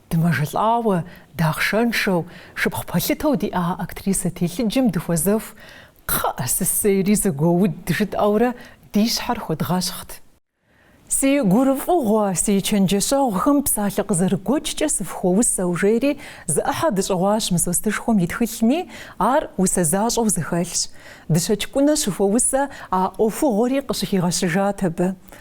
Дымэжэлӏауэ, дахъшэншэу, шыпхъу пэлъытэу диӏа актрисэ телъыджэм дыхуэзэху, Кхъыӏэ, сысейри зэгуэуд, жытӏэурэ ди щхьэр хуэдгъэщхът. Си гурыфӏыгъуэ, си чэнджэщэгъухэм псалъэ къызэрыгуэкӏкӏэ сыфхуэусэу, жери зы ӏыхьэ дыщӏыгъуащ Мысостышхуэм и тхылъми, ар усэ защӏэу зэхэлъщ. Дыщэкӏ Кӏунэ щыхуэусэ а ӏуэхугъуэри къыщыхигъэщыжат абы.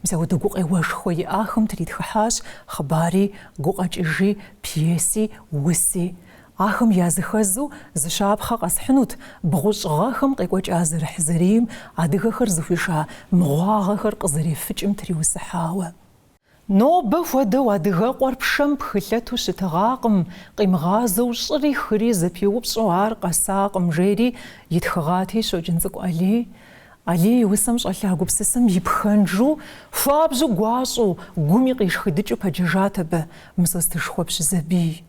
Мис апхуэдэ гукъеуэшхуэ иӏахэм тритхыхьащ хъыбари, гукъэкӏыжи, пьеси, уси. Ахэм языхэзу зы щапхъэ къэсхьынут бгъущӏ гъэхэм къекӏуэкӏа зэрыхьзэрийм адыгэхэр зыхуиша мыгъуагъэхэр къызэрефыкӏым триусыхьауэ. Нобэ хуэдэу Адыгэкъуэр пшэм пхылъэту щытыгъакъым, къимыгъазэу щӏыри хыри зэпиупщӏу ар къэсакъым, жери итхыгъати, Щоджэнцӏыкӏу Алий, Алий и усэм щӏэлъа гупсысэм и пхэнжу, хуабжьу гуащӏэу, гуми къишхыдыкӏыу пэджэжат абы Мысостышхуэ Пщызэбий.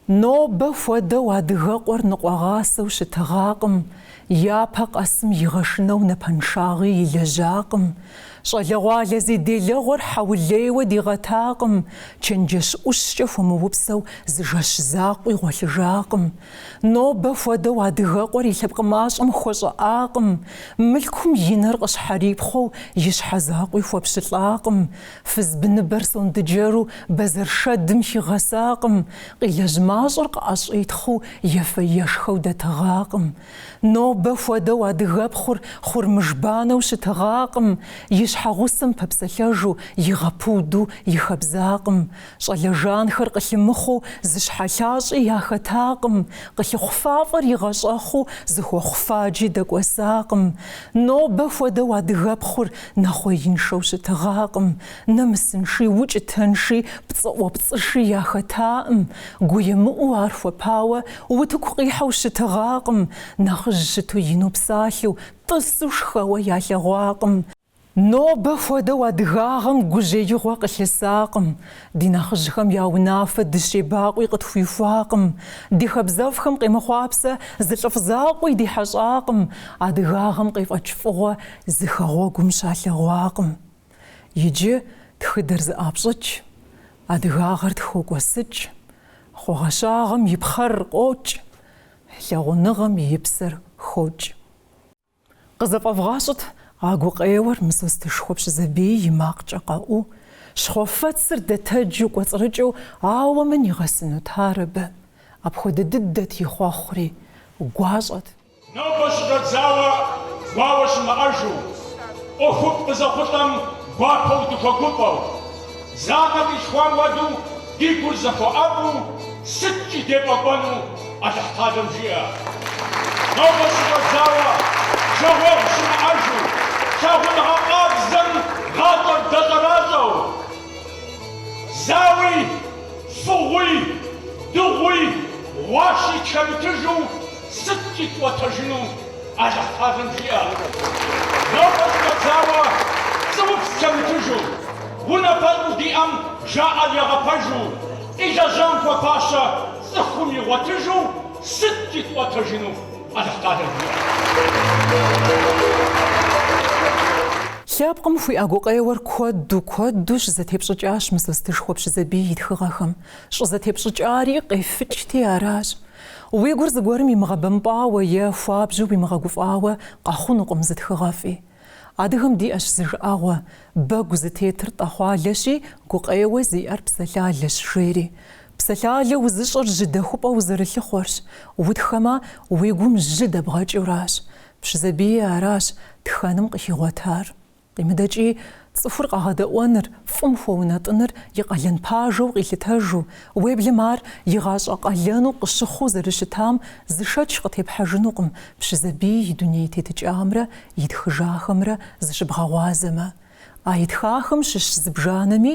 Нобэ хуэдэу адыгэкъуэр ныкъуэгъасэу щытыгъакъым, япэ къэсым игъэшынэу напэншагъи илэжьакъым, щӏалэгъуалэ зи делэгъуэр хьэулейуэ дигъэтакъым, чэнджэщ ӏущкӏэ хуэмыупсэу зы жэщ закъуи гъуэлъыжакъым, Нобэ хуэдэу адыгэкъуэр и лъэпкъ мащӏэм хуэщӏыӏакъым, мылъкум и нэр къыщхьэрипхъуэу и щхьэ закъуи хуэпщылӏакъым, фыз быныбэр сондэджэру бэзэр шэдым хигъэсакъым, къилэжь мащӏэр къыӏэщӏитхъыу ефэ-ешхэу дэтыгъакъым. Нобэ хуэдэу адыгэпхъур хъурмыжбанэу щытыгъакъым, и щхьэгъусэм пэпсэлъэжу игъэпуду и хэбзакъым. Щӏалэ жанхэр къылъымыхъуу зы щхьэлъащӏи яхэтакъым, къылъыхъу фафӏэр игъэщӏэхъуу зы хуэхъуфаджи дэкӏуэсакъым. Нобэ хуэдэу адыгэпхъур нэхъуеиншэу щытыгъакъым, нэмысынши, укӏытэнши, пцӏыӏуэпцӏыши яхэтаӏым, гуемыӏуу ар хуэпауэ утыку къихьэу щытыгъакъым, нэхъыжь щыту ину псалъэу, тӏысу шхэуэ ялъэгъуакъым. Нобэ хуэдэу адыгагъэм гужьеигъуэ къылъысакъым, ди нэхъыжьхэм я унафэ дыщебакъуи къытхуихуакъым, ди хабзэфӏхэм къемыхъуапсэ зы лӏыфӏ закъуи ди хьэщӏакъым, адыгагъэм къефӏэкӏ фӏыгъуэ зы хэгъуэгум щалъэгъуакъым. Иджы тхыдэр зэӏапщӏыкӏ, адыгагъэр тхокӏуэсыкӏ, хъуагъэщагъэм и пхъэр къокӏ, лъагъуныгъэм и псэр хокӏ. Къызэфӏэвгъащӏэт а гукъеуэр Мысостышхуэ Пщызэбий и макъкӏэ къэӏуу, щхъуэфэцыр дэтэджу кӏуэцӏрыкӏыу ауэ мын игъэсынут ар абы, апхуэдэ дыдэт и хъуэхъури, гуащӏэт. Нобэ щыщӏэдзауэ гуауэ щымыӏэжу, ӏуэхуфӏ къызэхъулӏэм гуапэу дыхуэгуфӏэу. Зы анэ къилъхуам хуэдэу ди гур зэхуэӏэфӏу сыткӏи дефӏэкӏуэну Алыхьталэм жиӏэ. Нобэ щыщӏэдзауэ жагъуэгъу щымыӏэжу, лъагъуныгъэ къабзэм гъащӏэр дэщӏэращӏэу, зауи, фыгъуи, дыгъуи, гъуащи тхэмытыжу, Сыткӏи дыкӏуэтэжыну Алыхьталэм жиӏэ. Нобэ щыщӏэдзауэ пцӏыупс тхэмытыжу, унафэщӏу диӏэм жаӏэр ягъэпэжу, илэжьам хуэфащэ цӏыхум игъуэтыжу сыткӏи дыкӏуэтэжыну Алыхьталэм жиӏэ. Лъэпкъым хуиӏэ гукъеуэр куэду, куэду щызэтепщӏыкӏащ Мысостышхуэ Пщызэбий и тхыгъэхэм. Щӏызэтепщӏыкӏари къефыкӏти аращ. Уи гур зыгуэрым имыгъэбэмпӏауэ е хуабжьу уимыгъэгуфӏауэ къэхъунукъым зы тхыгъэфӏи. Адыгэм диӏэщ зы жыӏэгъуэ, Бэгу зытетыр тӏэхъуалэщи, гукъеуэ зиӏэр псэлъалэщ, жери. Псэлъалэ узыщӏыр жьы дэхупӏэ узэрылъыхъуэрщ, утхэмэ, уи гум жьы дэбгъэкӏыуращ. Пщызэбийи аращ тхэным къыхигъуэтар. Къимыдэкӏи, цӏыхур къэгъэдэӏуэныр, фӏым хуэунэтӏыныр и къалэн пажэу къилъытэжу, уеблэмэ ар и гъащӏэ къалэну къыщыхъуу зэрыщытам зы шэч къытепхьэжынукъым Пщызэбий и дуней тетыкӏамрэ итхыжахэмрэ зыщыбгъэгъуазэмэ. А итхахэм щыщ зыбжанэми,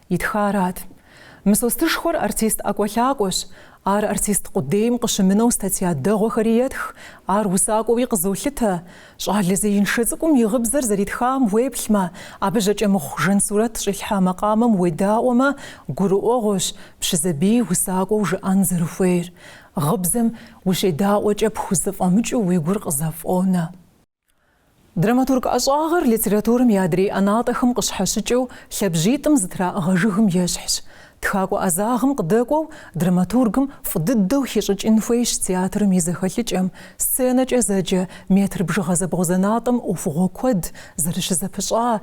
Итхарат. Мысостышхуэр артист ӏэкӏуэлъакӏуэщ. Ар артист къудейм къыщымынэу статья дэгъуэхэри етх, ар усакӏуэуи къызолъытэ. Щӏалэ зеиншэ цӏыкӏум и гъыбзэр зэритхам уеплъмэ, абы Жьакӏэмыхъу Жансурэт щӏилъхьа макъамэм уедаӏуэмэ, гурыӏуэгъуэщ Пщызэбий усакӏуэу жыӏэн зэрыхуейр. Гъыбзэм ущедаӏуэкӏэ пхузэфӏэмыкӏыу уи гур къызэфӏонэ. Драматург ӏэщӏагъэр литературэм и адрей ӏэнатӏэхэм къыщхьэщыкӏыу лъабжьитӏым зэтраӏыгъэ жыгым ещхьщ. Тхакӏуэ ӏэзагъым къыдэкӏуэу драматургым фӏы дыдэу хищӏыкӏын хуейщ театрым и зэхэлъыкӏэм, сценэкӏэ зэджэ метр бжыгъэ зэбгъузэнатӏэм ӏуэхугъуэ куэд зэрыщызэпыщӏа,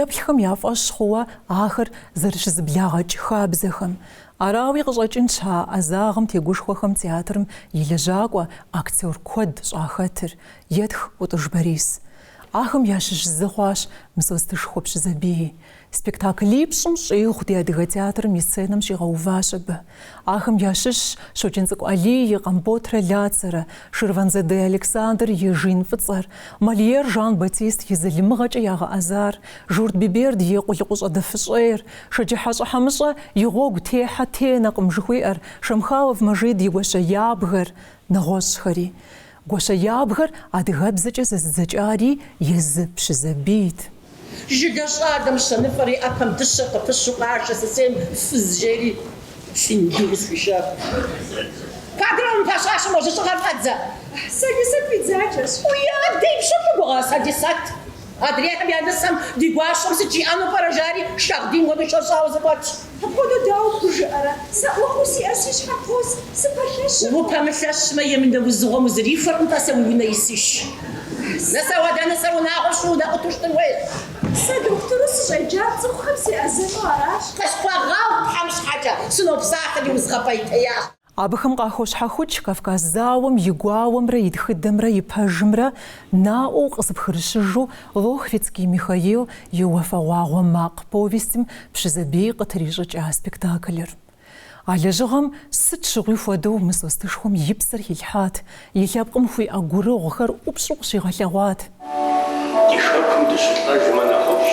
еплъхэм я фӏэщ хъууэ ахэр зэрыщызэблагъэкӏ хабзэхэм. Арауи къыщӏэкӏынщ а ӏэзагъым тегушхуэхэм театрым и лэжьакӏуэ, актер куэд щӏахэтыр. Етх Ӏутӏыж Борис. Ахэм ящыщ зы хъуащ Мысостышхуэ Пщызэбий. Спектаклипщӏым щӏигъу ди Адыгэ театрым и сценэм щигъэуващ абы. Ахэм ящыщщ Щоджэнцӏыкӏу Алий и Къамботрэ Лацэрэ, Ширванзаде Александр и Жин фӏыцӏэр, Мольер Жан-Батист и Залымыгъэкӏэ ягъэӏэзар, Журт Биберд и Къулыкъущӏэ дэфыщӏейр, Шэджыхьэщӏэ Хьэмыщэ и Гъуэгу техьэ тенэкъым жыхуиӏэр, Шамхалов Мэжид и Гуащэ ябгэр, нэгъуэщӏхэри. Гуащэ ябгэр адыгэбзэкӏэ зэзыдзэкӏари езы Пщызэбийт. Жыгэ щӏалэм щэныфӏэри ӏэпэм дыщэ къыпыщу къашэ сысейм фыз жери синьги къысхуишэху. Куэдрэ мы пэщащэм уэ жьыщӏыгъэр фӏэдзэ. Сэдисэт уи дзаджэщ. Уи адэ и пщӏэр фӏы гугъа, Сэдисэт? Адрейхэм я нысэм ди гуащэм сыт жиӏэну пӏэрэ, жари шагъдийм хуэдэу щӏэщӏауэ зыкъуэтщ. Апхуэдэу дауэ пхужыӏэрэ? Сэ ӏуэхуу сиӏэр си щхьэм къос, сыпэлъэщыркъым. Упэмылъэщмэ, емынэ узыгъуэм узрихуэркъым, тӏасэ, уи унэ исыж. Нысэ уэдэ, нысэ унагъуэ щӏу, унэ къуту щытын хуейщ. Сэ дохутыру сыщӏеджар цӏыхухэм сеӏэзэну аращ. Къысхуэгъэгъу Тхьэм щхьэкӏэ, сынопсалъэри узгъэпӏейтеящ. Абыхэм къахощхьэхукӏ Кавказ зауэм и гуауэмрэ и тхыдэмрэ и пэжымрэ наӏуэу къызыпхырыщыжу Лохвицкий Михаил и Уафэгъуагъуэ макъ повестым Пщызэбий къытрищӏыкӏа спектаклыр. А лэжьыгъэм сыт щыгъуи хуэдэу Мысостышхуэм и псэр хилъхьат, И лъэпкъым хуиӏэ гурыгъухэр ӏупщӏу къыщигъэлъэгъуат. Ди хэкум дыщылӏэжмэ нэхъыфӏщ,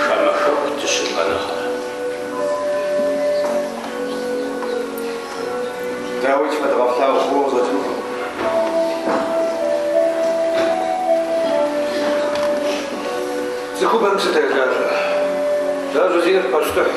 хамэ хэку дыщылӏэ нэхърэ. Дауи тфэдгъэплъагъу фӏыуэ къызэтынкъым. Цӏыхубэм псы тежажьэ. Жажьэ зиӏэр пащтыхь.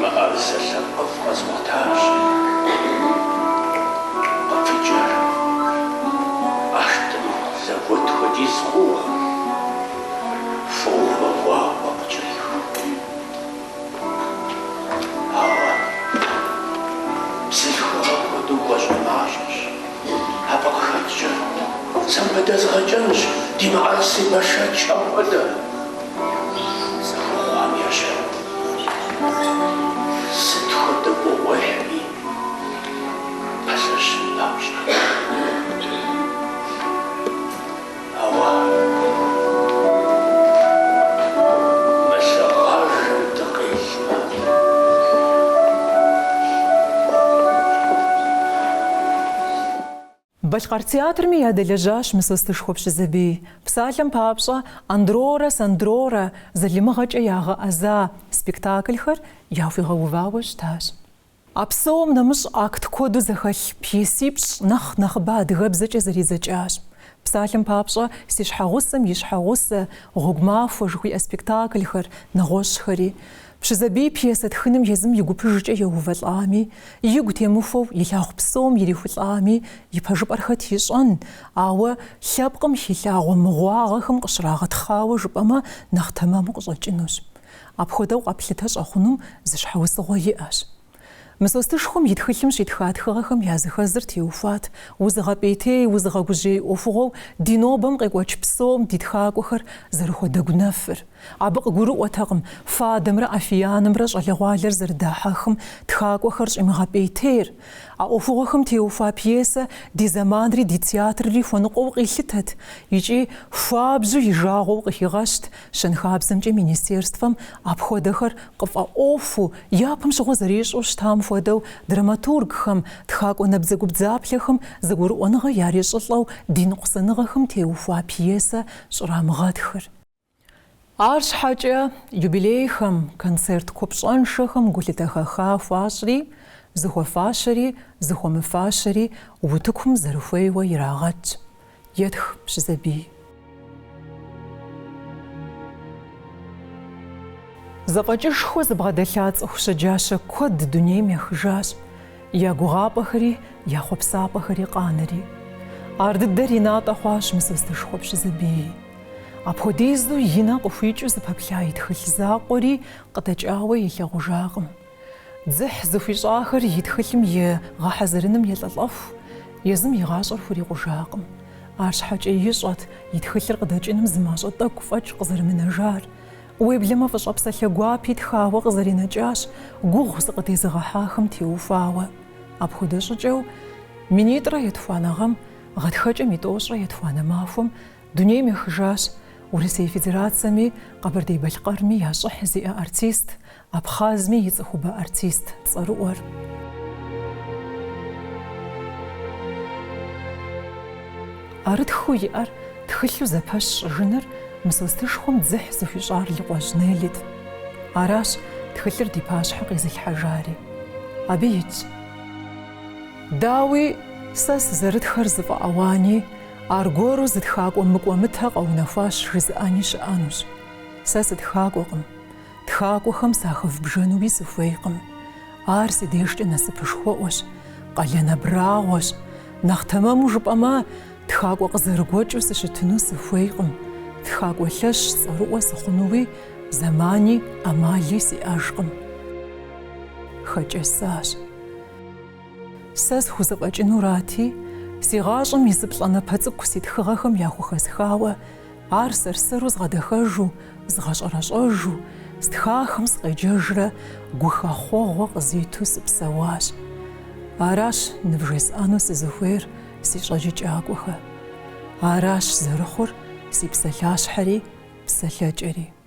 Мыӏэрысэ лъэпкъыфӏ къэзгъуэтащ къыпыкӏэр. Ӏэштӏым зэгуэт хуэдиз хъууэ, фӏыуэ гъуауэ къыкӏэриху. Ауэ бзылъхугъэ хуэдэу гуащӏэмащӏэщ. Абы къыхэкӏкӏэ, сэ абы дэзгъэкӏэнщ ди мыӏэрысей бэшэч апхуэдэ зыхуэхъуам ещэну. Сыт хуэдэ гугъуехьми пэлъэщын папщӏэ. Балъкъэр театрми ядэлэжьащ Мысостышхуэ Пщызэбий. Псалъэм папщӏэ, Андрорэ Сандрорэ залымыгъэкӏэ ягъэӏэза спектаклхэр яхуигъэувауэ щытащ. А псом нэмыщӏ акт куэду зэхэлъ пьесипщӏ нэхъ нэхъыбэ адыгэбзэкӏэ зэридзэкӏащ. Псалъэм папщӏэ, Си щхьэгъусэм и щхьэгъусэ, Гъуэгу махуэ жыхуиӏэ спектаклхэр, нэгъуэщӏхэри. Пщызэбий пьесэ тхыным езым и гупыжкӏэ еувэлӏами, игу темыхуэу илъагъу псом ирихьэлӏами, и пэжыпӏэр хэт ищӏэн, ауэ лъэпкъым хилъагъуэ мыгъуагъэхэм къыщрагъэтхъауэ жыпӏэмэ нэхъ тэмэму къыщӏэкӏынущ. Апхуэдэу къэплъытэ щӏэхъуну зы щхьэусыгъуэ иӏэщ. Мысостышхуэм и тхылъым щитха тхыгъэхэм языхэзыр теухуат, узыгъэпӏейтей, узыгъэгужьей ӏуэхугъуэу ди нобэм къекӏуэкӏ псом ди тхакӏуэхэр зэрыхуэдэгунэфыр. Абы къыгурыӏуэтэкъым, фадэмрэ афиянымрэ щӏалэгъуалэр зэрыдахьэхым, тхакӏуэхэр щӏимыгъэпӏейтейр. А ӏуэхугъуэхэм теухуа пьесэ ди зэманри ди театрри хуэныкъуэу къилъытэт икӏи хуабжьу и жагъуэу къыхигъэщт. Щэнхабзэмкӏэ министерствэм апхуэдэхэр къыфӏэӏуэхуу, япэм щыгъуэ зэрищӏу щытам хуэдэу, драматургхэм, тхакӏуэ набдзэгубдзаплъэхэм зэгурыӏуэныгъэ ярищӏылӏэу ди ныкъусаныгъэхэм теухуа пьесэ щӏрамыгъэтхыр. Арщхьэкӏэ юбилейхэм, концерт купщӏэншэхэм гулъытэ хэха хуащӏри, зыхуэфащэри, зыхуэмыфащэри утыкум зэрыхуейуэ ирагъэт. Етх Пщызэбий. Зэфӏэкӏышхуэ зыбгъэдэлъа цӏыху щэджащэ куэд дунейм ехыжащ, я гугъапӏэхэри, я хъуэпсапӏэхэри къанэри. Ар дыдэр и натӏэ хъуащ Мысостышхуэ Пщызэбии. Апхуэдизу и нэ къыхуикӏыу зыпэплъа и тхылъ закъуэри къыдэкӏауэ илъагъужакъым. Дзыхь зыхуищӏахэр и тхылъым и гъэхьэзырыным елӏэлӏэху, езым и гъащӏэр хурикъужакъым. Арщхьэкӏэ ищӏэт и тхылъыр къыдэкӏыным зы мащӏэ тӏэкӏу фӏэкӏ къызэрымынэжар. Уеблэмэ фӏыщӏэ псалъэ гуапи тхауэ къызэринэкӏащ, гугъу зыкъыдезыгъэхьахэм теухуауэ. Апхуэдэ щӏыкӏэу минитӏрэ етхуанэ гъэм, гъатхэкӏэм и тӏощӏрэ етхуанэ махуэм дунейм ехыжащ Урысей Федерацэми Къэбэрдей-Балъкъэрми я щӏыхь зиӏэ артист, Абхъазми и цӏыхубэ артист цӏэрыӏуэр. ӏэрытхыу иӏэр тхылъу зэпэщ щӏыжыныр Мысостышхуэм дзыхь зыхуищӏар Лыкъуэжь Неллит. Аращ тхылъыр ди пащхьэ къезылъхьэжари. Абы итщ. Дауи, сэ сызэрытхэр зыфӏэауани, аргуэру зы тхакӏуэ мыкӏуэмытэ къэунэхуащ жызыӏэни щыӏэнущ. Сэ сытхакӏуэкъым. Тхакӏуэхэм сахэвбжэнуи сыхуейкъым. Ар си дежкӏэ насыпышхуэӏуэщ, къалэн абрагъуэщ. Нэхъ тэмэму жыпӏэмэ, тхакӏуэ къызэрыгуэкӏыу сыщытыну сыхуейкъым. Тхакӏуэ лъэщ цӏэрыӏуэ сыхъунуи зэмани ӏэмали сиӏэжкъым. Хэкӏэсащ. Сэ схузэфӏэкӏынурати, си гъащӏэм и зы плӏанэпэ цӏыкӏу си тхыгъэхэм яхухэсхауэ Ар сэр-сэру згъэдэхэжу, згъэщӏэрэщӏэжу, стхахэм сыкъеджэжрэ гухэхъуэгъуэ къызиту сыпсэуащ. Аращ нывжесӏэну сызыхуейр, си щӏэджыкӏакӏуэхэ. Аращ зэрыхъур си псалъащхьэри псалъэкӏэри.